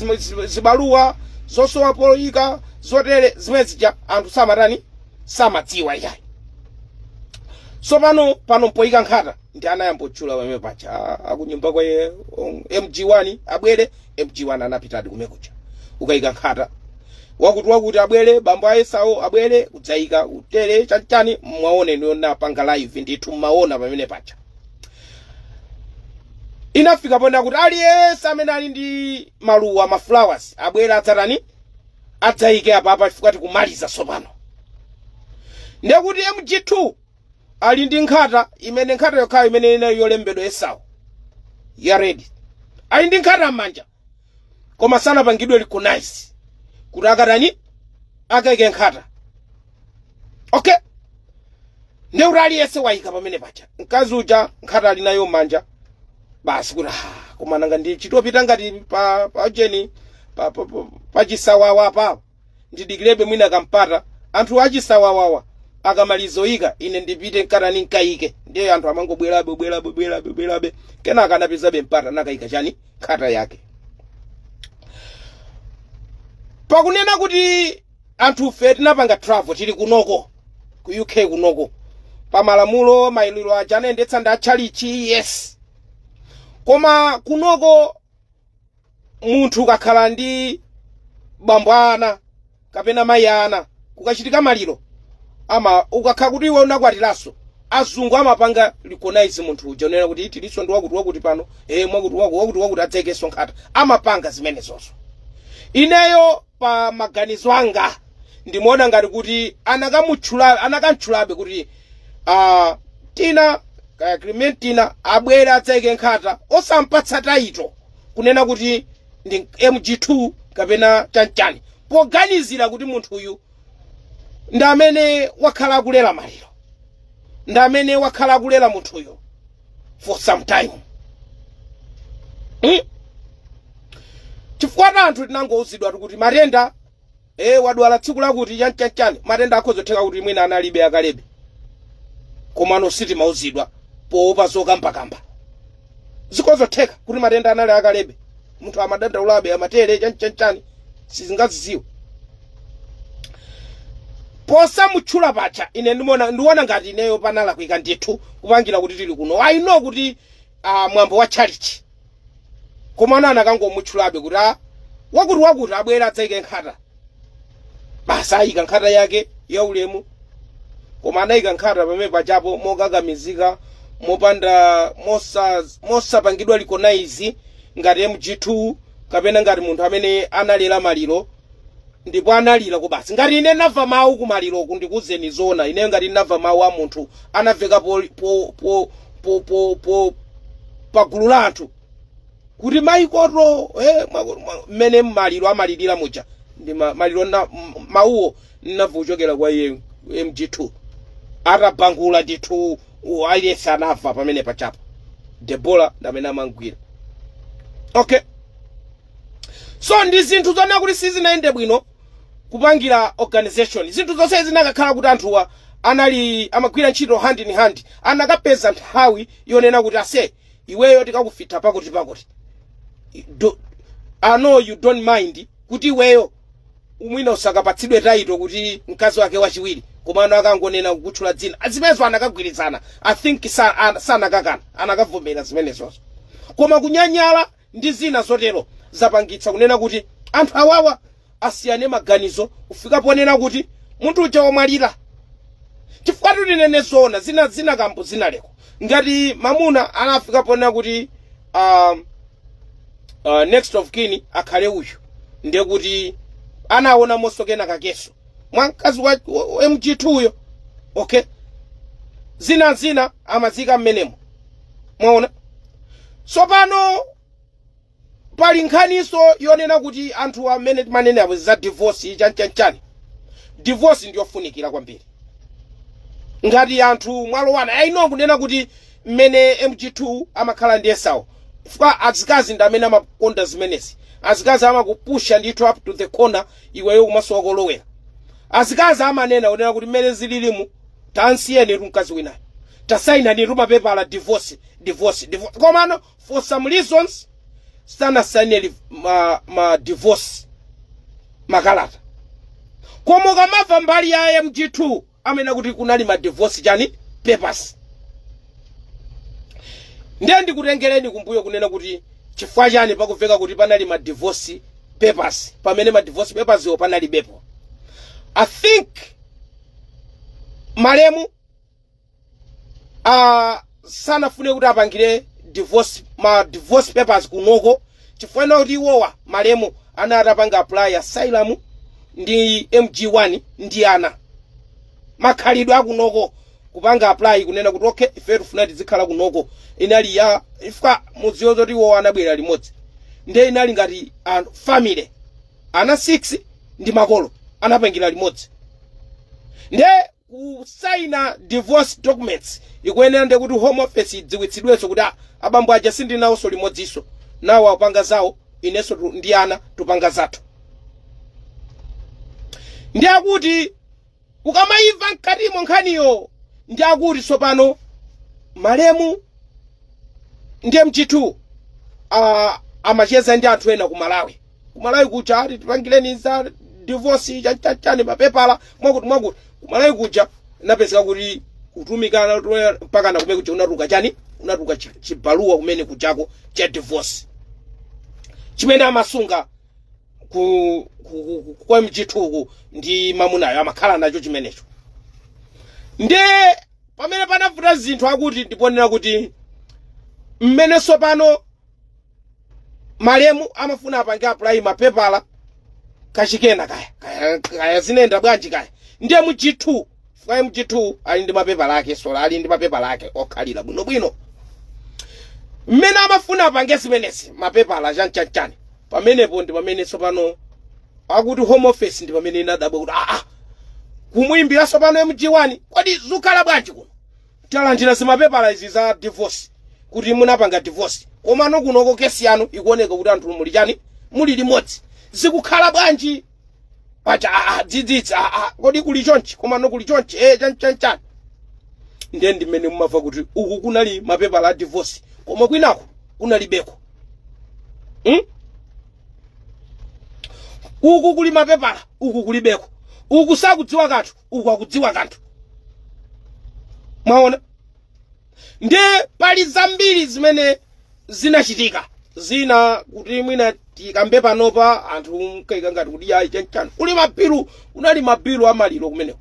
zibaluwa zosowa poika zotere, zimene zija anthu samatani, samadziwa iyayi. Tsopano pano mpoika nkhata. ndi anayamba otchula pamene paja a- akunyumba kwa ye- on- mg1 abwere mg1 anapitadi komwekuja kukayika nkhata wakuti wakuti abwere bambo ayesawo abwere kudzayika utere chanchani mwaona yonapanga live ndithu mmaona pamene paja inafika pona kuti aliyense amene ali ndi maluwa maflowers abwere adzatani adzayike apa apa chifukwa tikumaliza tsopano ndekuti mg2 ali ndi nkhata imene nkhata yokhayo imene inali yolembedwa esau ya red ali ndi nkhata m'manja koma sanapangidwe recognize kuti akatani akaike nkhata okay ndekuti aliyense wayika pamene paja mkazi uja nkhata ali nayo m'manja basi kuti "Ah, koma nanga ndi chitopita ngati pa pa jeni pa, pa, pa, pa chisawawa pa ndidikirebe mwina kampata anthu achisawawawa akamalizoika ine ndipite nkatani nkaike ndiye anthu amangobwerabe bwerabe bwerabe bwerabe kenaka anapezabe mpata nakaika chani nkhata yake pakunena kuti anthufe tinapanga travel tili kunoko ku uk kunoko pa malamulo maliro aja anayendetsa ndi atchalichi yes koma kunoko munthu akakhala ndi bambo ana kapena mayi ana kukachitika maliro ama ukakhala kuti iwe unakwatiranso azungu amapanga recognize munthu uja kunena kuti tilinso ndi wakuti wakuti pano eh mwakuti wakuti wakuti wakuti adzaikenso nkhata amapanga zimenezozo ineyo pa maganizo anga ndimaona ngati kuti anakamutchula anakamtchulabe kuti ah, tina kaya clementina abwere adzaike nkhata osampatsa taito kunena kuti ndi mg2 kapena chanchani poganizira kuti munthuyu ndi amene wakhala akulera maliro ndi amene wakhala akulera munthuyu for some time mm? chifukwa ta anthu tinangouzidwatu kuti matenda e wadwala tsiku lakuti chanchanchan matenda akhozotheka kuti mwina analibe akalebe komano sitimauzidwa poopa zokambakamba zikhozotheka kuti matenda anali akalebe munthu amadandaulabe amatere chanchanchani sitingazidziwe posamutchula paja ine ndimona ndiona ngati ineyo panalakwika ndithu kupangira kuti tili kuno i know kuti uh, mwambo wa chalichi komano anakangomutchulabe kuti a wakuti wakuti abwere adzaike nkhata basi ayika nkhata yake ya ulemu koma anayika nkhata pamene paja po mokakamizika mopanda mosa- mosapangidwa recognize ngati mg2 kapena ngati munthu amene analera maliro ndipo analira ku basi ngati ine nava mawu ku maliro ku ndikuuzeni zoona ineyo ngati nava mawu a munthu anaveka po, po, po, po, po, po, pa gulu la anthu kuti maikoto eh, mwa- mwa- mmene maliro amalirira muja ndi ma- maliro na m- mawuwo nnamva kuchokera kwa iye mg2 atabangula ndithu u- aliyense anamva pamene paja po debora ndamene amamugwira okay so ndi zinthu zoona kuti sizinayende bwino kupangira organization zinthu zonse zinakakhala kuti anthuwa anali amagwira ntchito hand in hand anakapeza nthawi yonena kuti ase iweyo tikakufitha pakuti pakuti I- do, I know you don't mind kuti iweyo mwina usakapatsidwe title kuti mkazi wake wachiwiri komano akangonena kukutchula dzina zimenezo anakagwirizana i think sa- an- sanakakana anakavomera zimenezozo koma kunyanyala ndi zina zotero, zapangitsa kunena kuti anthu awawa asiyane maganizo kufika ponena kuti munthu uja wamwalira. Chifukwatu tinene zoona, zina zina kampu zinaliko. Ngati mamuna anafika ponena kuti ah, ah, next of kin akhale uyu, ndiye kuti anaonamonso kena kakeso mwa mkazi wa wa- wa MG2 uyo okay zina zina amaziika mmenemo mwaona tsopano pali nkhaniso yonena kuti anthu amene timanene apo za divorce chanchanchani divorce ndiyofunikira kwambiri ngati anthu mwalowana ayi no kunena kuti mmene mg2 amakhala ndi esawo chifukwa azikazi ndi amene amakonda zimenezi azikazi amakupusha ndithu up to the corner iweyo kumasowa kolowera azikazi amanena kunena kuti mmene zililimu tansiyenitu mkazi winayo tasainanitu mapepala divorce divorce divorce komano for some reasons sanasaineli ma, ma divorce makalata koma ukamava mbali ya mg2 amanena kuti kunali ma divorce chani papers ndiye ndikutengereni kumbuyo kunena kuti chifukwa chani pakuveka kuti panali ma divorce papers pamene ma divorce papers wo panalibepo i think malemu uh, sanafune kuti apangire divorce ma divorce papers kunoko chifukwa chonena kuti iwowa malemu anali atapanga apply asylum ndi mg1 ndi ana makhalidwe akunoko kupanga apply kunena kuti okay ife tifuna tizikhala kunoko inali ya if ukamadziwa zoti iwowa anabwera limodzi nde inali ngati anthu family ana 6 ndi makolo anapangira limodzi nde kusaina divorce documents ikuyenera ndi kuti home office idziwitsidwenso kuti "Ah, abambo aja sindinawonso limodzinso nawo apanga zawo inenso tu- ndi ana tupanga zathu ndi akuti Ukamaimva mkatimo nkhaniyo ndi akuti tsopano malemu ndi MG2 a amacheza ndi anthu ena ku Malawi. Ku Malawi kuja ati tipangireni za divorce cha cha chani mapepala mwakuti mwakuti. Ku Malawi kuja napezeka kuti kutumikana toya- mpaka na kumene kuja kunatuluka chani kunatuluka chi- chibaluwa kumene kujako cha divorce chimene amasunga ku, ku, ku, ku, kwa MG2-ku ndi mamunayo amakhala nacho chimenecho nde pamene panavuta zinthu akuti ndi ponena kuti mmene sopano malemu amafuna apange apply mapepala kachikena kaya kaya kaya zinayenda bwanji kaya ndiye MG2 chifukwa mg2 ali ndi mapepala ake sola ali ndi mapepala ake okhalira bwinobwino mmene amafuna apange zimenezi mapepala chanchanchan pamenepo ndi pamene tsopano akuti home office ndi pamene inadabwa kuti aa kumuimbira tsopano mg1 kodi zukhala bwanji kuno talandira zimapepala izi za divorce kuti munapanga divorce komano kunoko kesi yanu ikuoneka kuti anthu muli chani muli limodzi zikukhala bwanji pacha ah, ah, dzidzidzi ah, ah, kodi kuli chonchi komano kuli chonchi eh, chani chani chani ndiye ndimene mumamva kuti uku kunali mapepala a divorce koma kwinaku kunalibeko hmm? uku kuli mapepala uku kulibeko uku sakudziwa kanthu uku akudziwa kanthu mwaona nde pali zambiri zimene zinachitika zina kuti mwina tikambe panopa anthu mkaika ngati kuti yayi chanchani kuli mabilu kunali mabilu amaliro kumeneko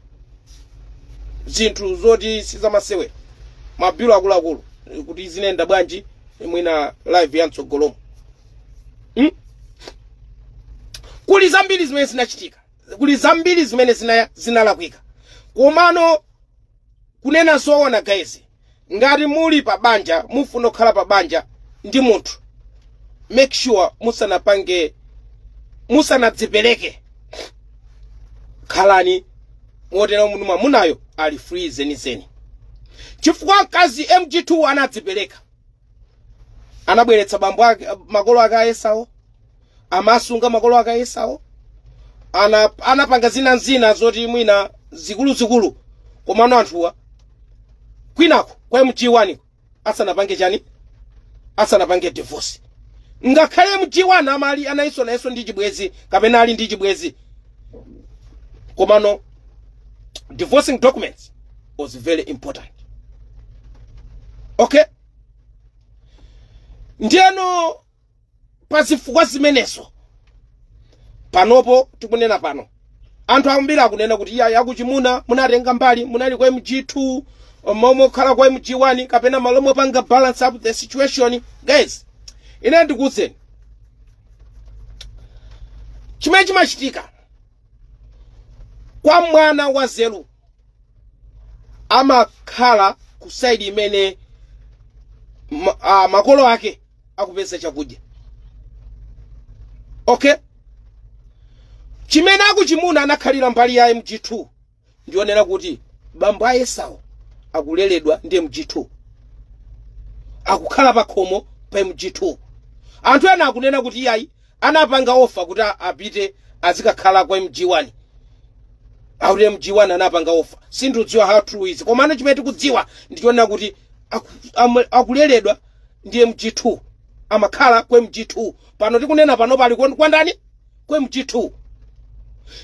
zinthu zoti sizamasewera mabilu akuluakulu kuti zinenda bwanji mwina live ya mtsogolomo hmm? kuli zambiri zimene zinachitika kuli zambiri zimene zina- zinalakwika komano kunena zoona guys ngati muli pa banja mufuna kukhala pa banja ndi munthu make sure musanapange musanadzipereke khalani moti munthu mwamunayo ali free zenizeni chifukwa mkazi mg2 anadzipereka anabweretsa bambo ake makolo ake ayesawo amasunga makolo ake a esau anapanga zina ndi zina zoti mwina zikuluzikulu komano anthuwa kwinako kwa mg1 asanapange chani asanapange divorce ngakhale mg1 amali anali nayenso ndi chibwezi kapena ali ndi chibwezi komano divorcing documents was very important okay ndiyeno pa zifukwa zimenezo panopo tikunena pano anthu ambiri akunena kuti iya yakuchimuna munatenga mbali munali kwa mg2 m'malo mokhala kwa mg1 kapena m'malo mopanga balance up the situation guys ine ndikuwuzeni chimene chimachitika kwa mwana wa nzeru amakhala ku side imene ma, a, makolo ake akupeza chakudya okay chimene akuchimuna anakhalira mbali ya mg2 ndi yonena kuti bambo a esau akuleredwa ndi mg2 akukhala pakhomo pa mg2 anthu ena akunena kuti iyayi anapanga offer kuti a- apite azikakhala kwa mg1 akuti mg1 anapanga offer sindikudziwa how true is komano chimene tikudziwa ndichonena kuti aku- amwe- akuleredwa ndi mg2 amakhala kwa mg2 pano tikunena pano pali kwa kwa ndani kwa mg2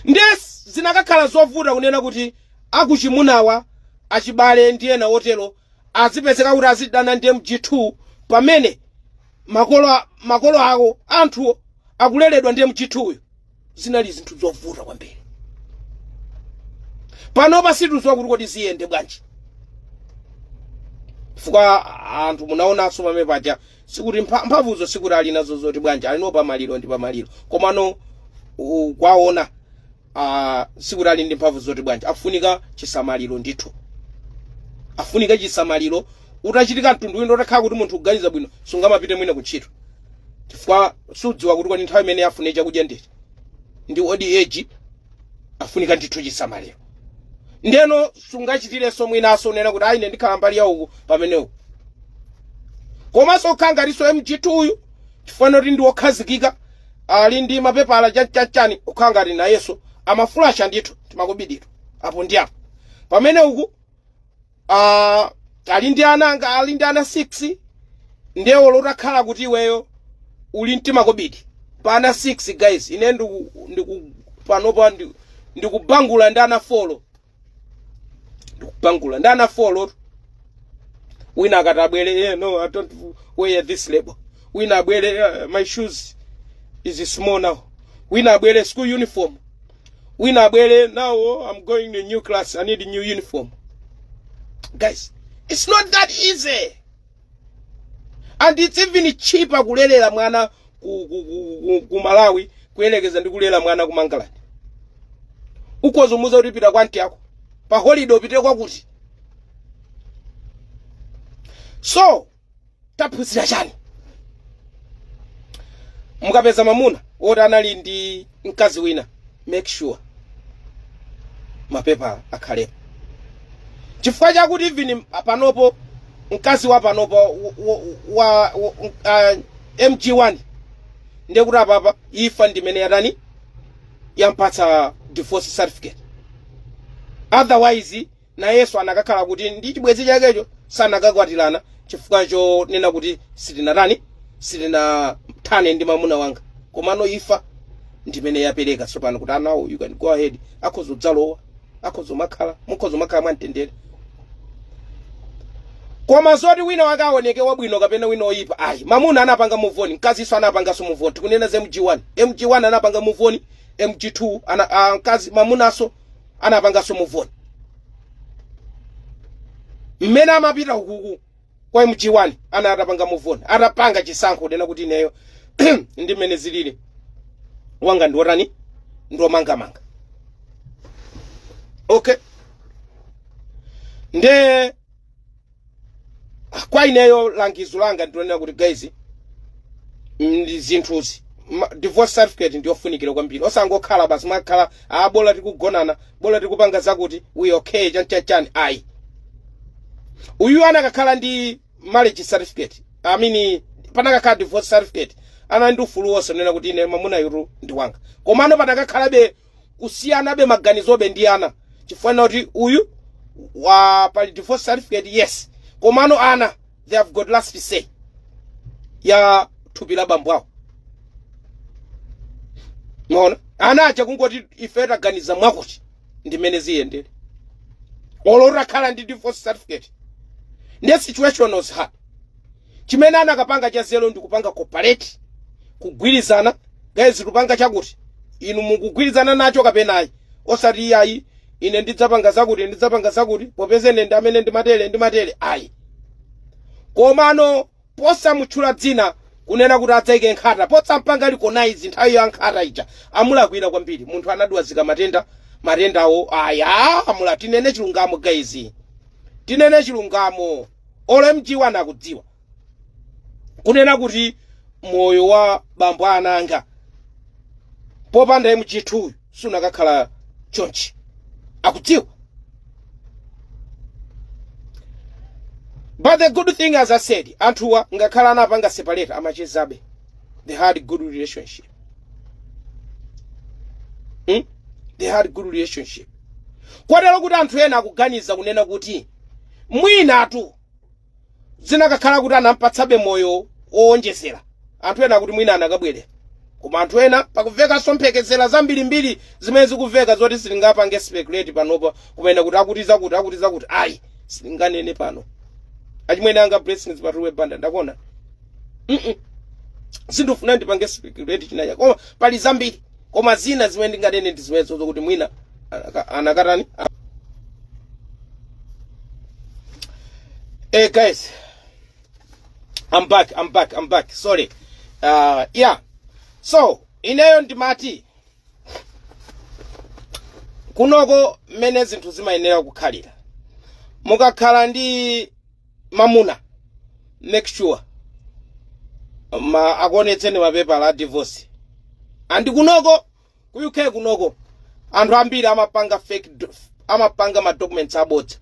nde zinakakhala zovuta kunena kuti akuchimunawa achibale ndi ena otero azipezeka kuti azidana ndi mg2 pamene makolo a- makolo awo anthuwo akuleredwa ndi mg2 uyu zinali zinthu zovuta kwambiri panopa sitikudziwa kuti kodi ziyende bwanji chifukwa anthu munaonanso pamene paja sikuti mpha- mphamvuzo sikuti ali nazo zoti bwanji ali no pamaliro ndi pamaliro komano u- kwaona ah, sikuti ali ndi mphamvu zoti bwanji afunika chisamaliro ndithu afunika chisamaliro utachitika mtundu wina utakhala kuti munthu kuganiza bwino sungamapite mwina ku ntchito chifukwa sukudziwa kuti kodi nthawi imene afune chakudya ndeti ndi old age afunika ndithu chisamaliro ndeno sungachitirenso mwinaso kunena kuti ayi ine ndikhala mbali ya uku pamenewo komanso zikukhala ngatinso mg2 uyu chifukwa choti ndi wokhazikika ali ndi mapepala chanichani zikukhala ngati nayenso amafulasha ndithu timakobidito apo ndi apo pamene uku uh, ali ndi ana anga ali ndi ana 6 ndiye olo utakhala kuti iweyo uli mtima kobidi pa ana 6 guys ine ndiku, ndiku panopa ndi- ndikubangula ndi ana folo ndikubangula ndi ana folo wina akati abwere eh, no i don't wear this label wina abwere eh, my shoes is small now wina abwere school uniform wina abwere now i'm going to new class i need new uniform guys it's not that easy and it's even cheaper kulelera mwana ku, ku, ku, ku, ku malawi kuyelekeza ndi kulera mwana ku mangalande ukhoza kumuuza kuti pita kwa aunt ako pa holiday upite kwakuti so taphunzira chani mukapeza mamuna woti anali ndi mkazi wina make sure mapepa akhalepo chifukwa chakuti even panopo mkazi wa panopo wa, wa, wa uh, mg1 ndiye kuti apapa imfa ndimene yatani yampatsa divorce certificate otherwise nayenso anakakhala kuti ndi chibwenzi chakecho sanakakwatirana chifukwa chonena kuti sitinatani sitinathane ndi mamuna wanga komano imfa ndimene yapereka tsopano kuti now you can go ahead akhoza kudzalowa akhoza kumakhala mukhoza kumakhala mwamtendere koma zoti wina wake aoneke wabwino kapena wina oyipa ayi mamuna anapanga muvoni mkazinso anapanganso muvoni tikunena za mg1 mg1 anapanga muvoni mg2 ana, a, mkazi mamunanso anapanganso muvoni mmene amapita ukuku kwa mg1 anali atapanga muvoni atapanga chisankho chonena kuti ineyo ndi mmene zilili wanga ndiwotani ndiwomangamanga okay nde kwa ineyo langizo langa ndilonena kuti guys zinthuzi ma- divorce certificate ndiyofunikira kwambiri osangokhala basi mwakhala a bola tikugonana bola tikupanga zakuti we okay chanchachani ayi uyu anakakhala ndi marriage certificate i mean panakakhala divorce certificate anali ndi ufulu wonse wonena kuti ine mamunayu ndi wanga komano panakakhalabe kusiyanabe maganizobe ndi ana chifukwa chonena kuti uyu wa pali divorce certificate yes komano ana they have got last say ya thupi la bambo awo mwaona ana aja kungoti ife taganiza mwakuti ndimene ziyendere olo utakhala ndi divorce certificate ndiye situation was hard chimene anakapanga cha nzeru ndi kupanga cooperate kugwirizana guys tupanga chakuti inu mukugwirizana nacho kapena ayi osati iye ayi ine ndidzapanga zakuti ndidzapanga zakuti popeza ine ndi amene ndimatere ndimatere ayi komano posamutchula dzina kunena kuti adzaike nkhata posampanga recognize nthawi ya nkhata ija amulakwira kwambiri munthu anadwazika matenda matendawo aya amula tinene chilungamo guys tinene chilungamo olo mg1 akudziwa kunena kuti moyo wa bambo a ana anga popanda mg2 uyu sunakakhala chonchi akudziwa but the good thing as i said anthuwa ngakhale anapanga separate amachezabe they had good relationship hmm? they had good relationship kotero kuti anthu ena akuganiza kunena kuti mwinatu zinakakhala kuti anampatsabe moyo wowonjezera anthu ena kuti mwina anakabwererana koma anthu ena pakumvekanso mphekesera zambirimbiri zimene zikumveka zoti sitingapange speculate panopa kumene kuti akuti zakuti akuti zakuti ayi sitinganene pano achimwene anga blessings patuwe banda ndakuona Mm-mm. sindifuna ndipange speculate chinachake koma pali zambiri koma zina zimene ndinganene ndi zimenezo zokuti mwina anaka- anakatani eh guys i'm back i'm back i'm back sorry uh, yeah so ineyo ndimati kunoko mmene zinthu zimayenera kukhalira mukakhala ndi mamuna make sure ma akuonetseni mapepala a divorce and kunoko ku uk kunoko anthu ambiri amapanga fake do- amapanga ma documents abodza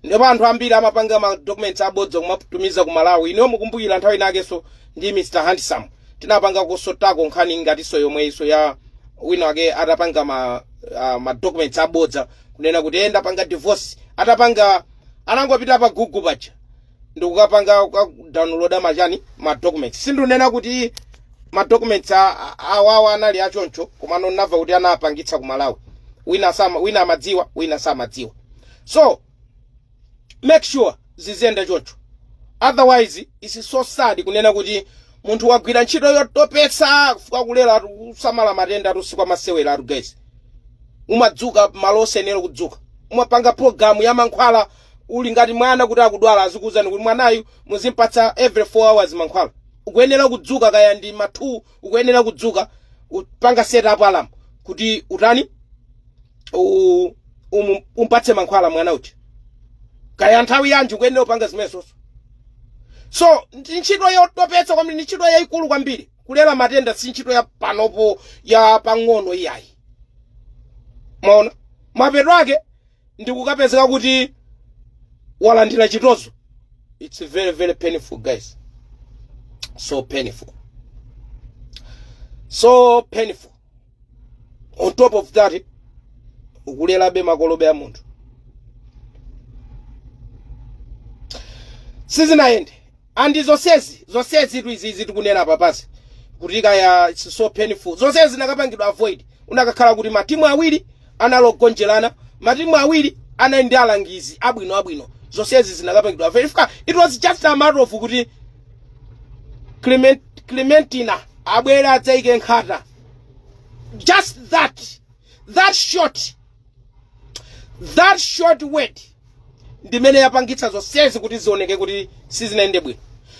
ndipo anthu ambiri amapanga ma documents abodza kumatumiza ku malawi inuyo mukumbukira nthawi inakenso ndi mr handsome tinapanga kususutako nkhani ngatinso yomweyinso ya wina wake atapanga ma, uh, ma documents abodza kunena kuti ndapanga divorce atapanga anangopita pa google paja ndikukapanga kukadownloada machani ma documents sindunena kuti ma documents a- a- awawa anali achoncho komano ndinamva kuti anapangitsa ku malawi wina sama wina amadziwa wina samadziwa so make sure ziziyenda choncho otherwise it's so sad kunena kuti munthu wagwira ntchito yotopetsa kufukatira kulera kusamala matenda atu si kwa masewera atu guys umadzuka malo osayenera kudzuka, umapanga program ya mankhwala uli ngati mwana kuti akudwala azikuwuzani kuti mwanayu muzimpatsa every 4 hours mankhwala ukuyenera kudzuka kaya ndi ma 2 ukuyenera kudzuka kupanga set up alarm kuti utani u- umu- umpatse mankhwala mwana uti kaya nthawi yanji ukuyenera kupanga zimenezo so ndi ntchito yotopetsa kwambiri ndi ntchito yayikulu kwambiri kulera matenda si ntchito ya panopo ya pang'ono iyayi mwaona mapeto ake ndikukapezeka kuti walandira chitozo it's very very painful guys so painful so painful on top of that ukulerabe makolo be a munthu sizinayende And zonsezi, zonsezitu izi izi tikunena apapazi kuti kaya it's so painful. Zonsezi zinakapangidwa avoid. Unakakhala kuti matimu awiri analigonjerana, matimu awiri anali ndi alangizi abwino abwino. Zonsezi zinakapangidwa avoid. Chifukwa, it was just a matter of kuti Clement, Clementina abwere adzaike nkhata. Just that. That short. That short word ndimene yapangitsa zonsezi kuti zioneke kuti sizinayende bwino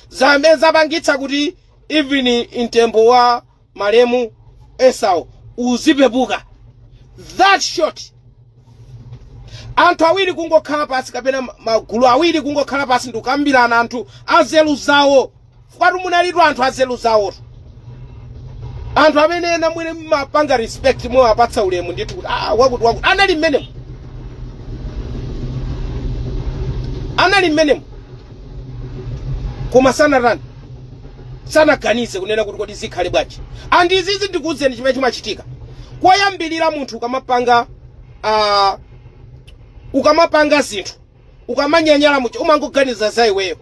zamene zapangitsa kuti even mtembo wa malemu esau uzipepuka that short anthu awiri kungokhala pasi kapena ma- magulu awiri kungokhala pasi ndikukambirana anthu anzeru zawo fukwatu munalitu anthu azelu zawotu anthu amene ena mwene mmapanga respect mmawapatsa ulemu ndithu kuti ah, wakuti wakuti anali mmenemo anali mmenemo koma sanatani sanaganize kunena kuti kodi zikhale bwanji and izizi ndikuuzeni chimene chimachitika koyambirira munthu ukamapanga uh, ukamapanga zinthu ukamanyanyala muja umangoganiza za iweyo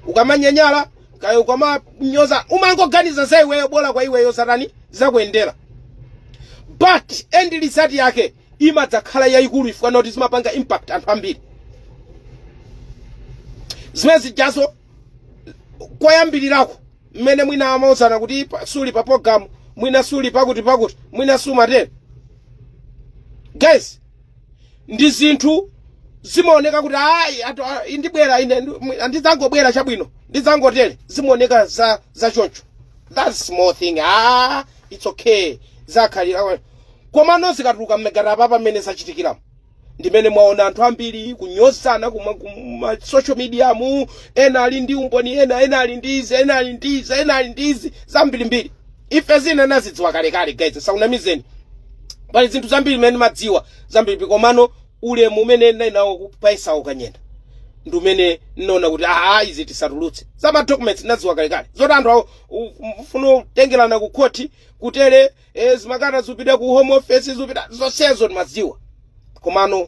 ukamanyanyala kaya ukamanyoza umangoganiza za iweyo bola kwa iweyo zatani zakuyendera but end result yake imadzakhala yayikulu chifukwa choti zimapanga impact anthu ambiri zimene zijazo koyambirirako mmene mwina amauzana kuti pa- suli pa program mwina suli pakuti pakuti mwina sumatero guys ndi zinthu zimaoneka kuti ayi atu- a- ndibwera ine ndi- ndidzangobwera chabwino ndidzangotere zimaoneka za za choncho that small thing ah it's okay zakhalira komano zikatuluka mmegata apa mmene zachitikiramo ndimene mwaona anthu ambiri kunyozana kuma kuma social media mu ena ali ndi umboni ena ena ali ndi izi ena ali ndi izi ena ali ndi izi zambirimbiri Ife zina nazidziwa kalekale guys nisakunamizeni pali zinthu zambiri zimene nimadziwa zambiri komano ulemu umene ninali nawo ku- pa Esau Kanyenda ndi umene nnaona kuti aa izi tisatulutse za ma documents nadziwa kalekale zoti anthu akufuna kutengerana ku khoti kutele eh, zimakata zupita ku home office zupita zonsezo ndimadziwa komano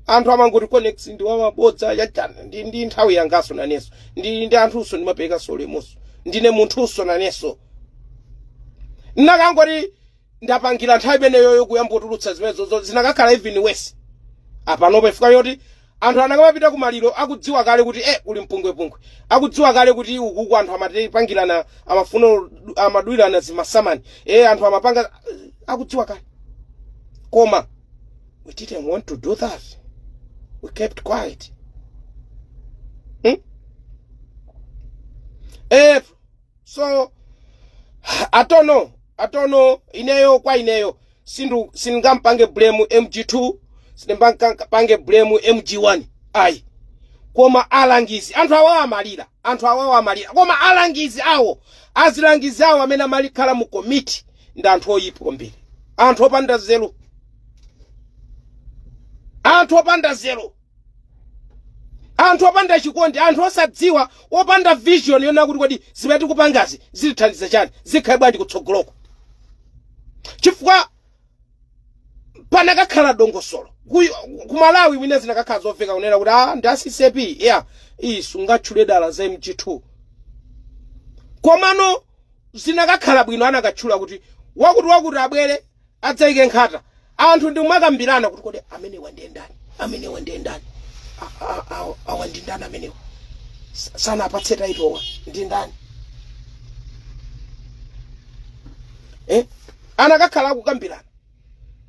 anthu amangoti conex ndi wamabodza achani ndi, ndi nthawi yangaso naneso ndi, ndi anthunso ndimaperekaso ulemuso ndine munthunso naneso nnakangoti ndapangira nthawi imeneyoyo kuyambotulutsa zimenezozo zinakakhala even worse apanopa chifukwa choti Anthu anakamapita ku maliro akudziwa kale kuti eh kuli mpungwepungwe. Akudziwa kale kuti ukuku anthu amapangirana amafuna amadulirana zimasamani. Eh anthu amapanga akudziwa kale. Koma we didn't want to do that. We kept quiet. Hmm? April so I don't know I don't know ineyo kwa ineyo sindu sindingapange blame mg2 sindingapange blame mg1 ayi koma alangizi anthu awawo amalira anthu awawo amalira koma alangizi awo azilangizi awo amene amakhala mu komiti ndi anthu oyipa kwambiri anthu opanda nzeru anthu opanda nzeru anthu opanda chikondi anthu osadziwa opanda vision yonena kuti kodi zimene tikupangazi zitithandiza chani zikhale bwanji kutsogoloko chifukwa panakakhala dongosolo Kuy- ku Malawi mwina zinakakhala zoveka kunena kuti ah ndi acp ya iyi sungatchule dala za mg2 komano zinakakhala bwino anakatchula kuti wakuti wakuti abwere adzaike nkhata anthu ndi kumakambirana kuti kodi amenewa ndiye ndani amenewa ndiye ndani A- a- a- awa ndi ndani amenewa Sa- sanapatse title-wa ndi ndani eh? anakakhala akukambirana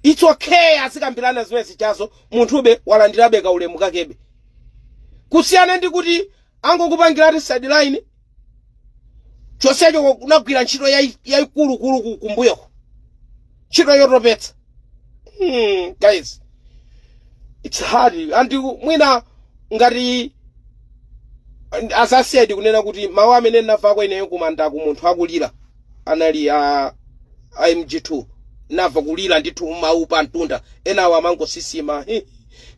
it's okay azikambirana zimene zichazo munthube walandirabe kaulemu kakebe kusiyana ndi kuti angokupangiratu sideline chonsecho kunagwira ntchito yayi- yayikulukulu ku- kumbuyoko ntchito yotopetsa hmm, guys it's hard and mwina ngati as I said kunena kuti mawu amene ndinamvako ineyo kumandako munthu akulira anali a a mg2 namva kulira ndithu mawu pa mtunda enawo amangosisima he,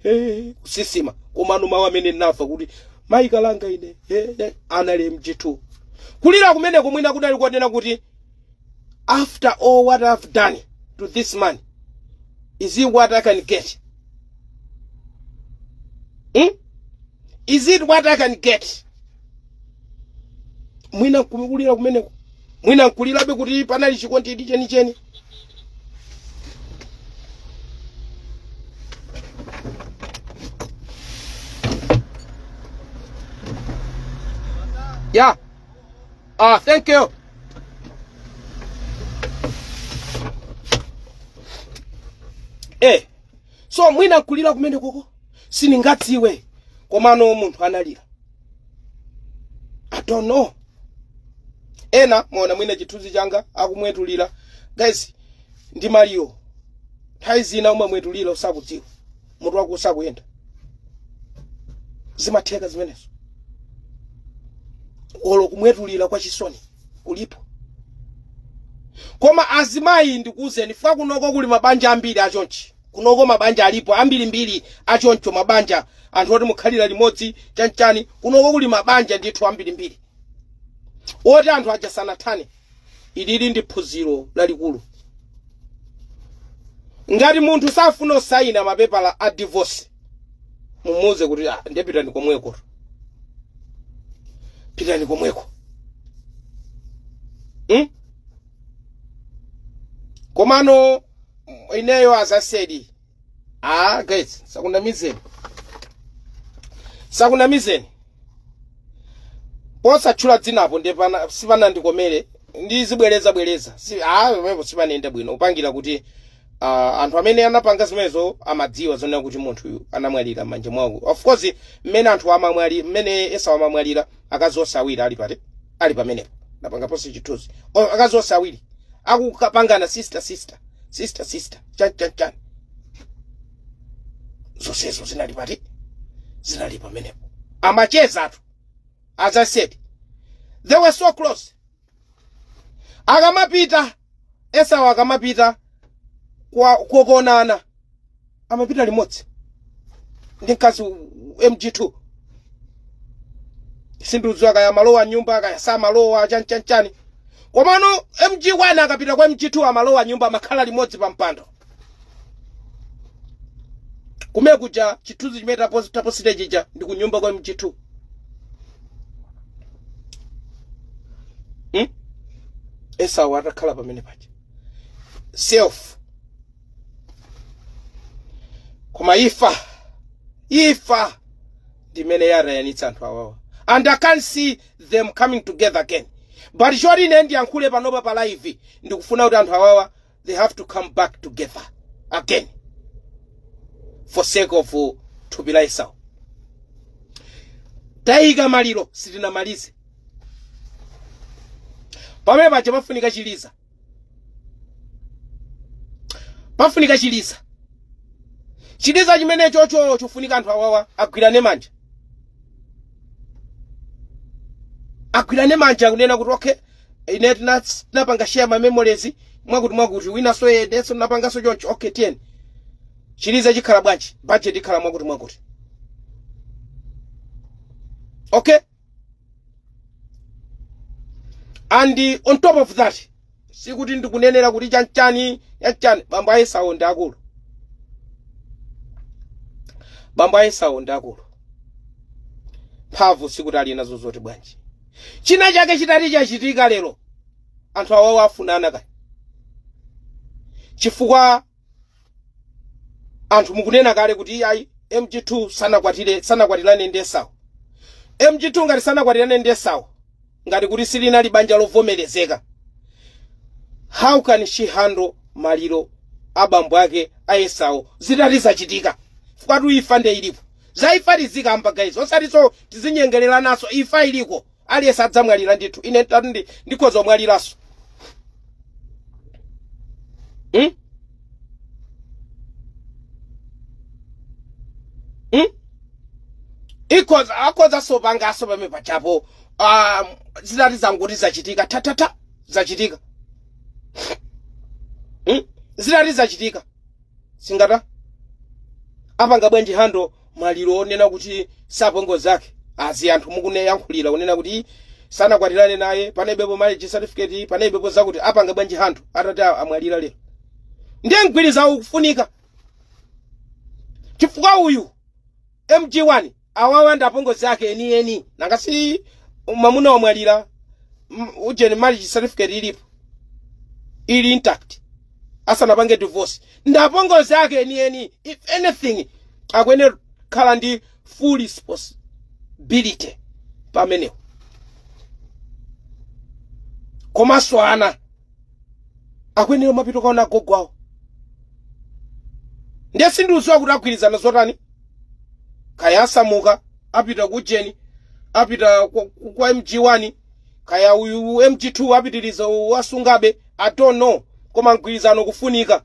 he, kusisima komano mawu amene namva kuti mayi kalanga ine he, he, anali mg2 kulira kumeneko mwina kunali konena kuti after all what i've done to this man is it what i can get hmm? is it what i can get mwina nkukulira kumeneko mwina nkulirabe kuti panali chikondi chenicheni yeah ah thank you eh so mwina nkulira kumenekoko sindingadziwe komano munthu analira i don't know ena mwaona mwina chithunzi changa akumwetulira guys ndi maliro nthawi zina umamwetulira usakudziwa mutu wako usakuyenda zimatheka zimenezo olo kumwetulira kwa chisoni kulipo koma azimayi ndikuwuzeni fika kunoko kuli mabanja ambiri achonchi kunoko mabanja alipo ambirimbiri achoncho mabanja anthu oti mukhalira limodzi chanchani kunoko kuli mabanja ndithu ambirimbiri oti anthu aja sanathane ilili ndi phunziro lalikulu ngati munthu safuna kusayina mapepala a divorce mumuuze kuti "Ah, nde pitani komweko pitani komweko hmm? komano ineyo as i said ah guys sakunamizeni sakunamizeni posatchula dzinapo ndi pana- sipanandikomere ndizibwereza bwereza si ah pamenepo sipanayenda bwino upangira kuti ah, anthu amene anapanga zimenezo amadziwa zonena kuti munthuyu anamwalira m'manja mwawo of course mmene anthu amamwali mmene esau amamwalira akazi onse awiri ali pati ali pamenepo ndapanga post chithunzi O, akazi onse awiri akukapangana sister sister sister sister chani chani chani zonsezo zinali pati zinali pamenepo amacheza anthu as i said they were so close akamapita esau akamapita kukaonana amapita limodzi ndi mkazi mg2 sindikudziwa kaya amalowa m'nyumba kaya samalowa chani chani chani komano mg1 akapita kwa mg2 amalowa m'nyumba amakhala limodzi pa mpando kumene kuja chithunzi chimene tapo- taposita chija ndi kunyumba kwa mg2 hmm? esau atakhala pamene paja selfie koma imfa imfa ndimene yadanitsa anthu awawa and i can't see them coming together again but choti ine ndiyankhule panopa pa live ndikufuna kuti anthu awawa they have to come back together again for sake of uh, thupi la esau taika maliro sitinamalize pamene paja pafunika chiliza pafunika chiliza chiliza chimene chocho chofunika anthu awawa agwirane manja agwirane manja kunena kuti okay ine tina- tinapanga share ma memories mwakuti mwakuti winanso nayenso anapanganso choncho okay tiyeni chiliza chikhala bwanji budget ikhala mwakuti mwakuti okay and uh, on top of that sikuti ndikunenera kuti chanchani chanchani bambo a esau ndi akulu bambo a esau ndi akulu mphamvu sikuti ali nazo zoti bwanji Chinachake chitati chachitika lero, anthu awawa afunanakaye chifukwa anthu mukunena kale kuti iyayi MG2 sanakwatire sanakwatirane ndi Esau. MG2 ngati sanakwatirane ndi Esau, ngati kuti silinali banja lovomerezeka, how can she handle maliro a bambo ake a Esau zitati zachitika? Chifukwa tu imfa nde ilipo. Za imfa tizikamba guys osatiso tizinyengelelanaso imfa iliko aliyese adzamwalila ndithu ine tatu ndi ndikhoza kumwalilaso hmm? hmm? ikhoza akhozaso pangaso pame pachapo um, zitati zangoti zachitika tatata zachitika hmm? zitati zachitika singati apanga bwanji handle maliro onena kuti si apongozi ake as anthu mukuyankhulira onena kuti sanakwatirane naye panalibepo marriage certificate panalibepo zakuti apanga bwanji handle atati a- amwalira lero ndiye mgwirizano ukufunika chifukwa uyu mg1 awawa ndi apongozi ake enieni nanga si mwamuna wamwalira m- ujeni marriage certificate ilipo ili intact asanapange divorce ndi apongozi ake enieni if anything akuyenera kukhala ndi full responsibility pamenepo komanso ana akuyenera mapita kaona agogo awo ndiye sindikudziwa kuti agwirizana zotani kaya asamuka apita ku ujeni apita kwa, kwa mg1 kaya uyu mg2 apitiriza wasungabe i don't know koma mgwirizano ukufunika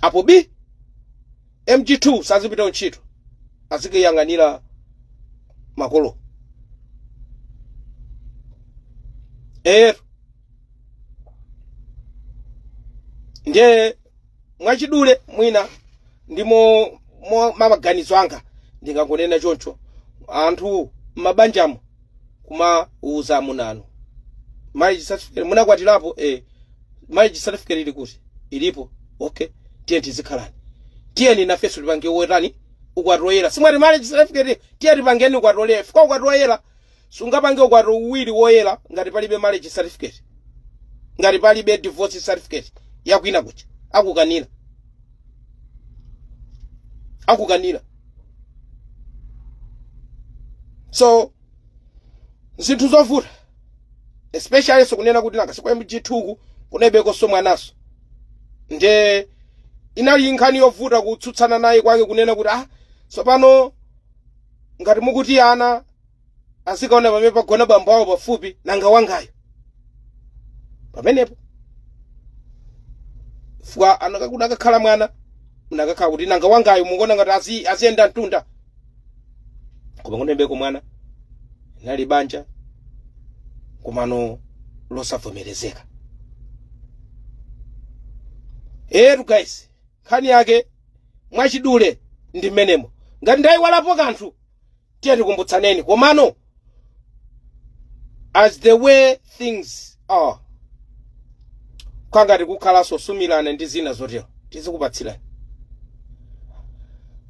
apo bii mg2 sazipita ntchito azikayang'anira makolo ero ndiye mwachidule mwina ndi maganizo anga ndingangonena choncho anthu m'mabanjamo kumauza amuna anuwo marriage certificate munakwatirapo eh marriage certificate ili kuti ilipo okay tiyeni tizikhalani tiyeni nafeso tipange wotani ukwati woyera simwati marriage certificate tiye tipangeni ukwati woyera fika ukwati woyera Sungapange ukwati uwiri woyera ngati palibe marriage certificate. Ngati palibe divorce certificate ya kwina kuja. Akukanira. Akukanira. So, zinthu zovuta. Especially so kunena kuti nanga sikwa MG2 ku kunalibekoso mwanaso. Nde inali nkhani yovuta kutsutsana naye kwake kunena kuti ah sopano ngati mukuti ana azikaona pamene pagona bambo awo pafupi nanga wangayo pamenepo fwa anaka- unakakhala mwana unakakhala kuti nanga wangayo mukuona ngati aziyenda mtunda koma kunalibeko mwana linali banja komano losavomerezeka etu guys nkhani yake mwachidule ndi mmenemo ngati ndayiwalapo kanthu tiye tikumbutsaneni komano as the way things are kaya ngati kukhalanso kusumilana ndi zina zotero tizikupatsirani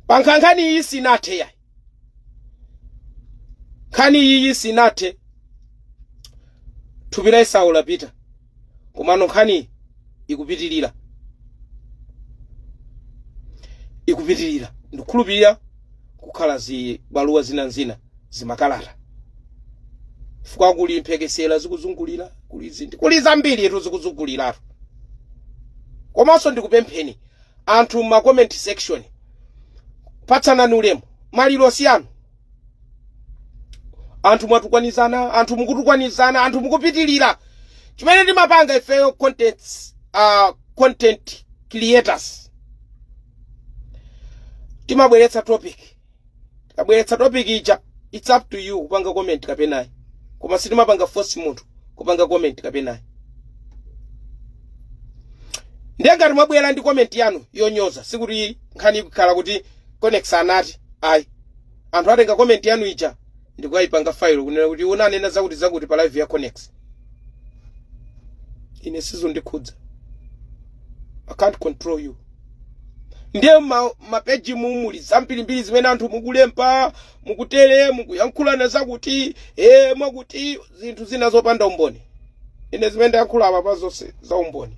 pa nkha- nkhani iyi sinathe yayi nkhani iyi sinathe thupi la esau lapita komano nkhani ikupitirira ikupitirira ndikukhulupirira kukhala zibaluwa zina ndi zina zimakalata chifukwa kuli mphekesera zikuzungulira kuli zinthu kuli zambiri etu zikuzunguliratu komanso ndikupempheni anthu mu comment section patsanani ulemu maliro siyanu anthu mwatukwanizana anthu mukutukwanizana anthu mukupitilira chimene timapanga ifeyo content creators timabweretsa topic tikabweretsa topic ija it's up to you kupanga comment kapenayi koma sitimapanga force munthu kupanga comment kapenayi ndiye ngati mwabwera ndi comment yanu yonyoza sikuti nkhani ikukhala kuti Konnex anati, Ayi. Anthu atenga comment yanu ija ndikuyipanga file kunena kuti munanena zakuti zakuti pa live ya Konnex. Ine sizondikhudza. I can't control you. Ndiye ma, mapeji mumuli zambirimbiri zimene anthu mukulemba mukutere mukuyankhulana zakuti eh mwakuti zinthu zina zopanda umboni. Ine zimene ndayankhula apapa zonse za umboni.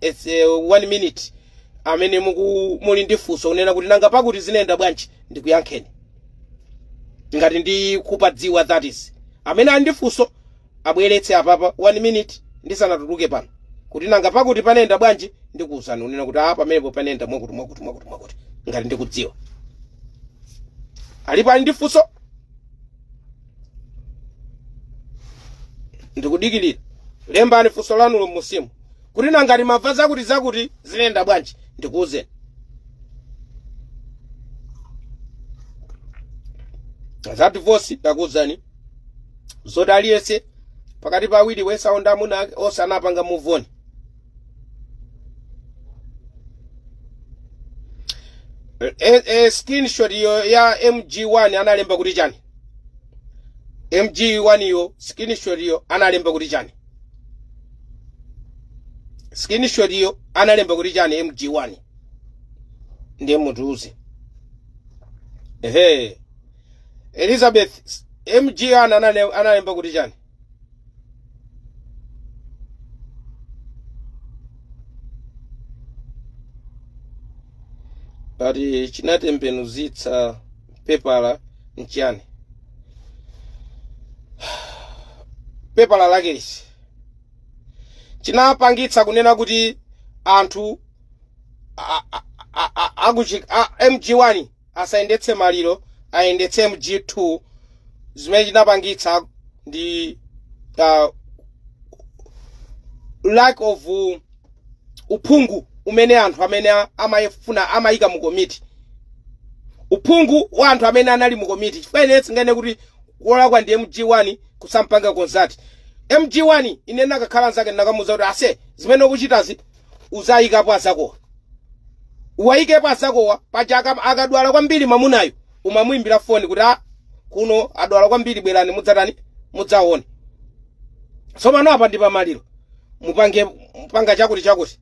It's uh, one minute amene muku muli ndi funso kunena kuti nanga pakuti zinayenda bwanji ndikuyankheni ngati ndikupadziwa that is amene ali ndi funso abweretse apapa one minute ndisanatuluke pano kuti nanga pakuti panayenda bwanji ndikuwuzani unena kuti apa pamenepo panayenda mwakuti mwakuti mwakuti mwakuti ngati ndikudziwa alipo ali ndi funso ndikudikirira lembani funso lanulo m'munsimu kuti nanga timamva zakuti zakuti zinayenda bwanji ndikuwuzeni za divorce ndakuwuzani zoti aliyense pakati pa awiri Esau ndi amuna ake onse anapanga move on e, e, screenshot iyo ya mg1 analemba kuti chani mg 1 yo screenshot yo analemba kuti chani screenshot yo analemba kuti chani mg 1 ndiye mutiuze ehe elizabeth mg 1 anale- analemba kuti chani ati chinatembenuzitsa pepala nchiyani pepala lake liti chinapangitsa kunena kuti anthu a- a- a- a- akuchi- a- mg1 asayendetse maliro ayendetse mg2 zimene chinapangitsa ndi uh, lack of uh, uphungu umene anthu amene a- amayifuna amayika mu komiti uphungu wa anthu amene anali mu komiti chifukwa ine sindinganene kuti wolakwa ndi mg1 kusampanga consult mg1 ine nakakhala nzake ndinakamuza kuti ase zimene ukuchitazi uzayikapo azakowa uwayikepo azakowa paja aka- akadwala kwambiri mamunayu umamuimbira foni kuti a kuno adwala kwambiri bwerani mudzatani mudzaone tsopano apa ndi pamaliro mupange mpanga chakuti chakuti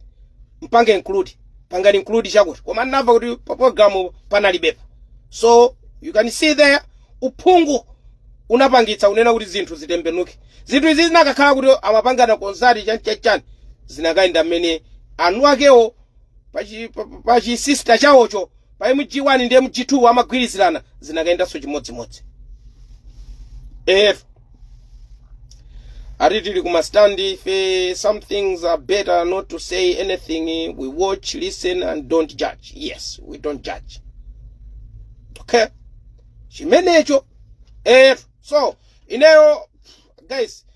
mpange include pangani include chakuti koma ndinamva kuti pa program panalibepo so you can see there uphungu unapangitsa unena kuti zinthu zitembenuke zinthu izi zinakakhala kuti amapangana consult chani chani chani zinakayenda mmene anu akewo pa chi- pa- pa- pa chisista chawocho pa mg1 ndi mg2 amagwirizirana zinakayendanso chimodzimodzi ef ati tili kumastand ife some things are better not to say anything we watch listen and don't judge yes we don't judge okay chimenecho ef so ineyo guys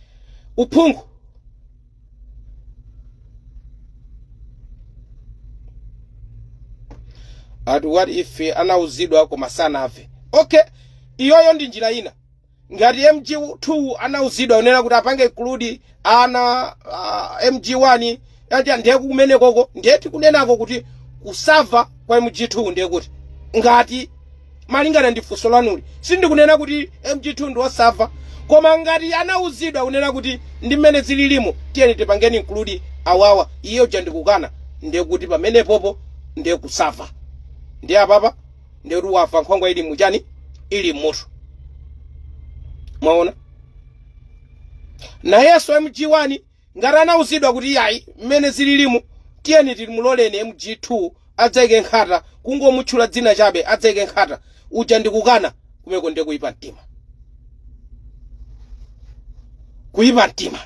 uphungu ati what if anauzidwa koma sanamve okay iyoyo ndi njira ina ngati mg2 anauzidwa unena kuti apange include ana uh, mg1 Ati ndiye kumenekoko ndiye tikunenako kuti kusava kwa MG2 ndiye kuti ngati malingana ndi funso lanuli sindikunena kuti MG2 ndi osava koma ngati anauzidwa kunena kuti ndi mmene zililimo tiyeni tipangeni include awawa iye uja ndikukana ndiye kuti pamenepopo ndiye kusava ndiye apapa ndiye kuti wava nkhwangwa ili muchani ili mmutu mwaona nayenso MG1 Ngati anauzidwa kuti iyayi mmene zililimu tiyeni timuloleni MG2 adzaike nkhata, kungomutchula dzina chabe, adzaike nkhata, uja ndi kukana, kumeko ndiye kuipa mtima. Kuipa mtima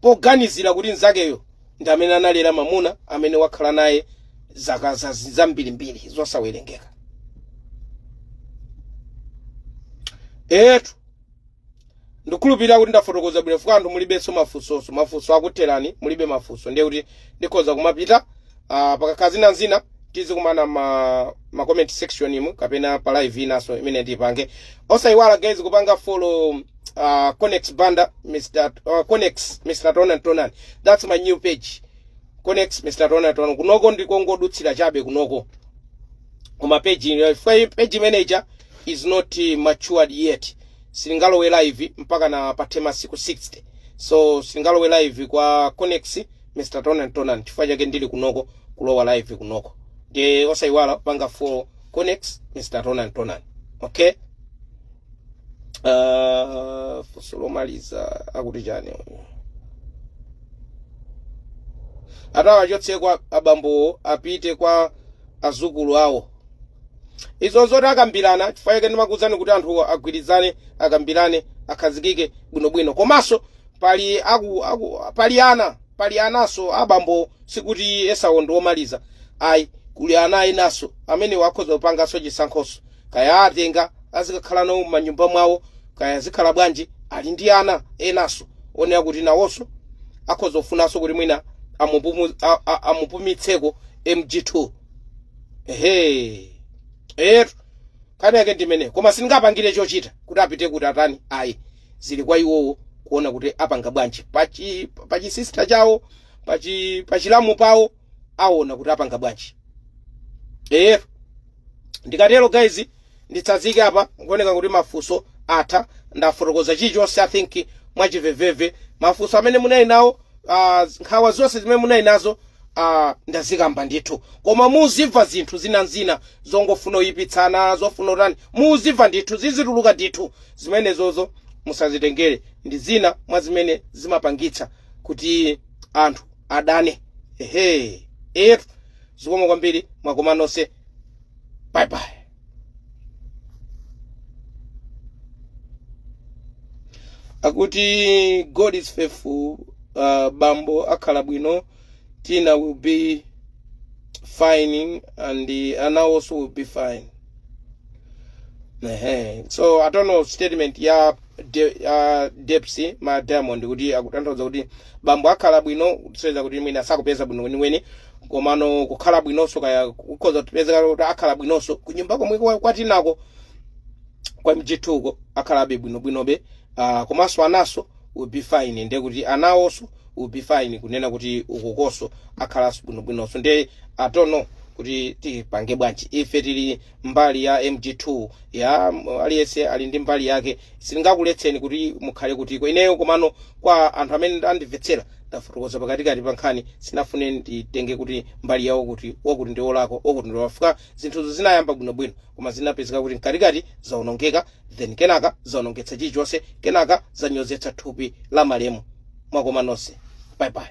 poganizira kuti mzakeyo ndi amene analera mamuna amene wakhala naye zaka zambirimbiri zosawerengeka. Eetu! Ndikhulupirira kuti ndafotokoza bwino chifukwa anthu mulibenso mafunso. Mafunso akutherani, mulibe mafunso. Ndiye kuti ndikhoza kumapita. Ah, pakakhala zina nzina tizikumana ma ma comment section mu kapena pa live inanso imene tipange. Osayiwala guys kupanga follow uh, Conex Banda Mr. Uh, Conex Mr. Tonan Tonan. That's my new page. Conex Mr. Tonan Tonan. Kunoko ndikongodutsira chabe kunoko. Koma page ino- chifukwa hii page manager is not uh, matured yet. silingalowe live mpakana pathe masiku 60 so silingalowe live kwa Conex Mr Tonan Tonan chifukwa chake ndili kunoko kulowa live kunoko ndiye osayiwala kupanga follow Conex Mr Tonan Tonan okay uh, funso lomaliza akuti chani uyu ati awachotse kwa abambowo apite kwa azukulu awo Izo nzoti akambirana, chifukwa chake ndimakuwuzani kuti anthuwo agwirizane, akambirane, akhazikike bwinobwino. Komanso pali aku, aku, pali ana, pali ananso abambo, sikuti Esau ndi womaliza. Ayi, kuli ana enanso amenewo akhoza kupanganso chisankhonso. Kaya atenga azikakhala nawo m'manyumba mwawo, kaya zikhala bwanji, ali ndi ana enanso onena kuti nawonso akhoza kufunanso kuti mwina amupumu- a- a- amupumitseko MG2. ehe etu nkhani yake ndimene koma sindingapangire chochita kuti apite kuti atani ayi zili kwa iwowo kuona kuti apanga bwanji pachi pachisister chawo pachi pachilamu pawo aona kuti apanga bwanji etu ndikatero guys Nditsazike apa zikuoneka kuti mafunso atha ndafotokoza chilichonse I think mwachiveveve mafunso amene munali nawo uh, nkhawa zonse zimene munali nazo uh, ndazikamba ndithu koma muziva zinthu zinanzina zongofuna kuyipitsana zofuna kutani muzimva ndithu zizituluka ndithu zimenezozo musazitengere ndi zina mwa zimene zimapangitsa kuti anthu adane ehe etu zikomo kwambiri mwakoma nonse bye bye akuti god is faithful uh, bambo akhala bwino tina will be fine and uh, ana also will be fine Ehe. so i don't know statement ya de, uh, Depsy ma diamond kuti akutanthauza kuti bambo akhala bwino kusonyeza kuti mwina sakupeza bwino weniweni komano kukhala bwinonso kaya kukhoza kupezeka kuti akhala bwinonso kunyumba komwe kwa- kwatinako kwa MG2ko akhalabe bwinobwinobe uh, komanso anaso will be fine ndiye kuti anawonso will be fine kunena kuti ukukonso akhalanso bwinobwinonso ndiye I don't know kuti tipange bwanji ife tili mbali ya mg2 ya mm, aliyense ali ndi mbali yake sindingakuletseni kuti mukhale kutiko ineyo komano kwa anthu amene andimvetsera ndafotokoza pakatikati pa nkhani sinafune nditenge kuti mbali yawo kuti wakuti ndi olakwa wakuti ndi wafika zinthuzo zinayamba bwinobwino koma zinapezeka kuti mkatikati zaonongeka then kenaka zaonongetsa chilichonse kenaka zanyozetsa thupi la malemu mwakoma nonse bye bye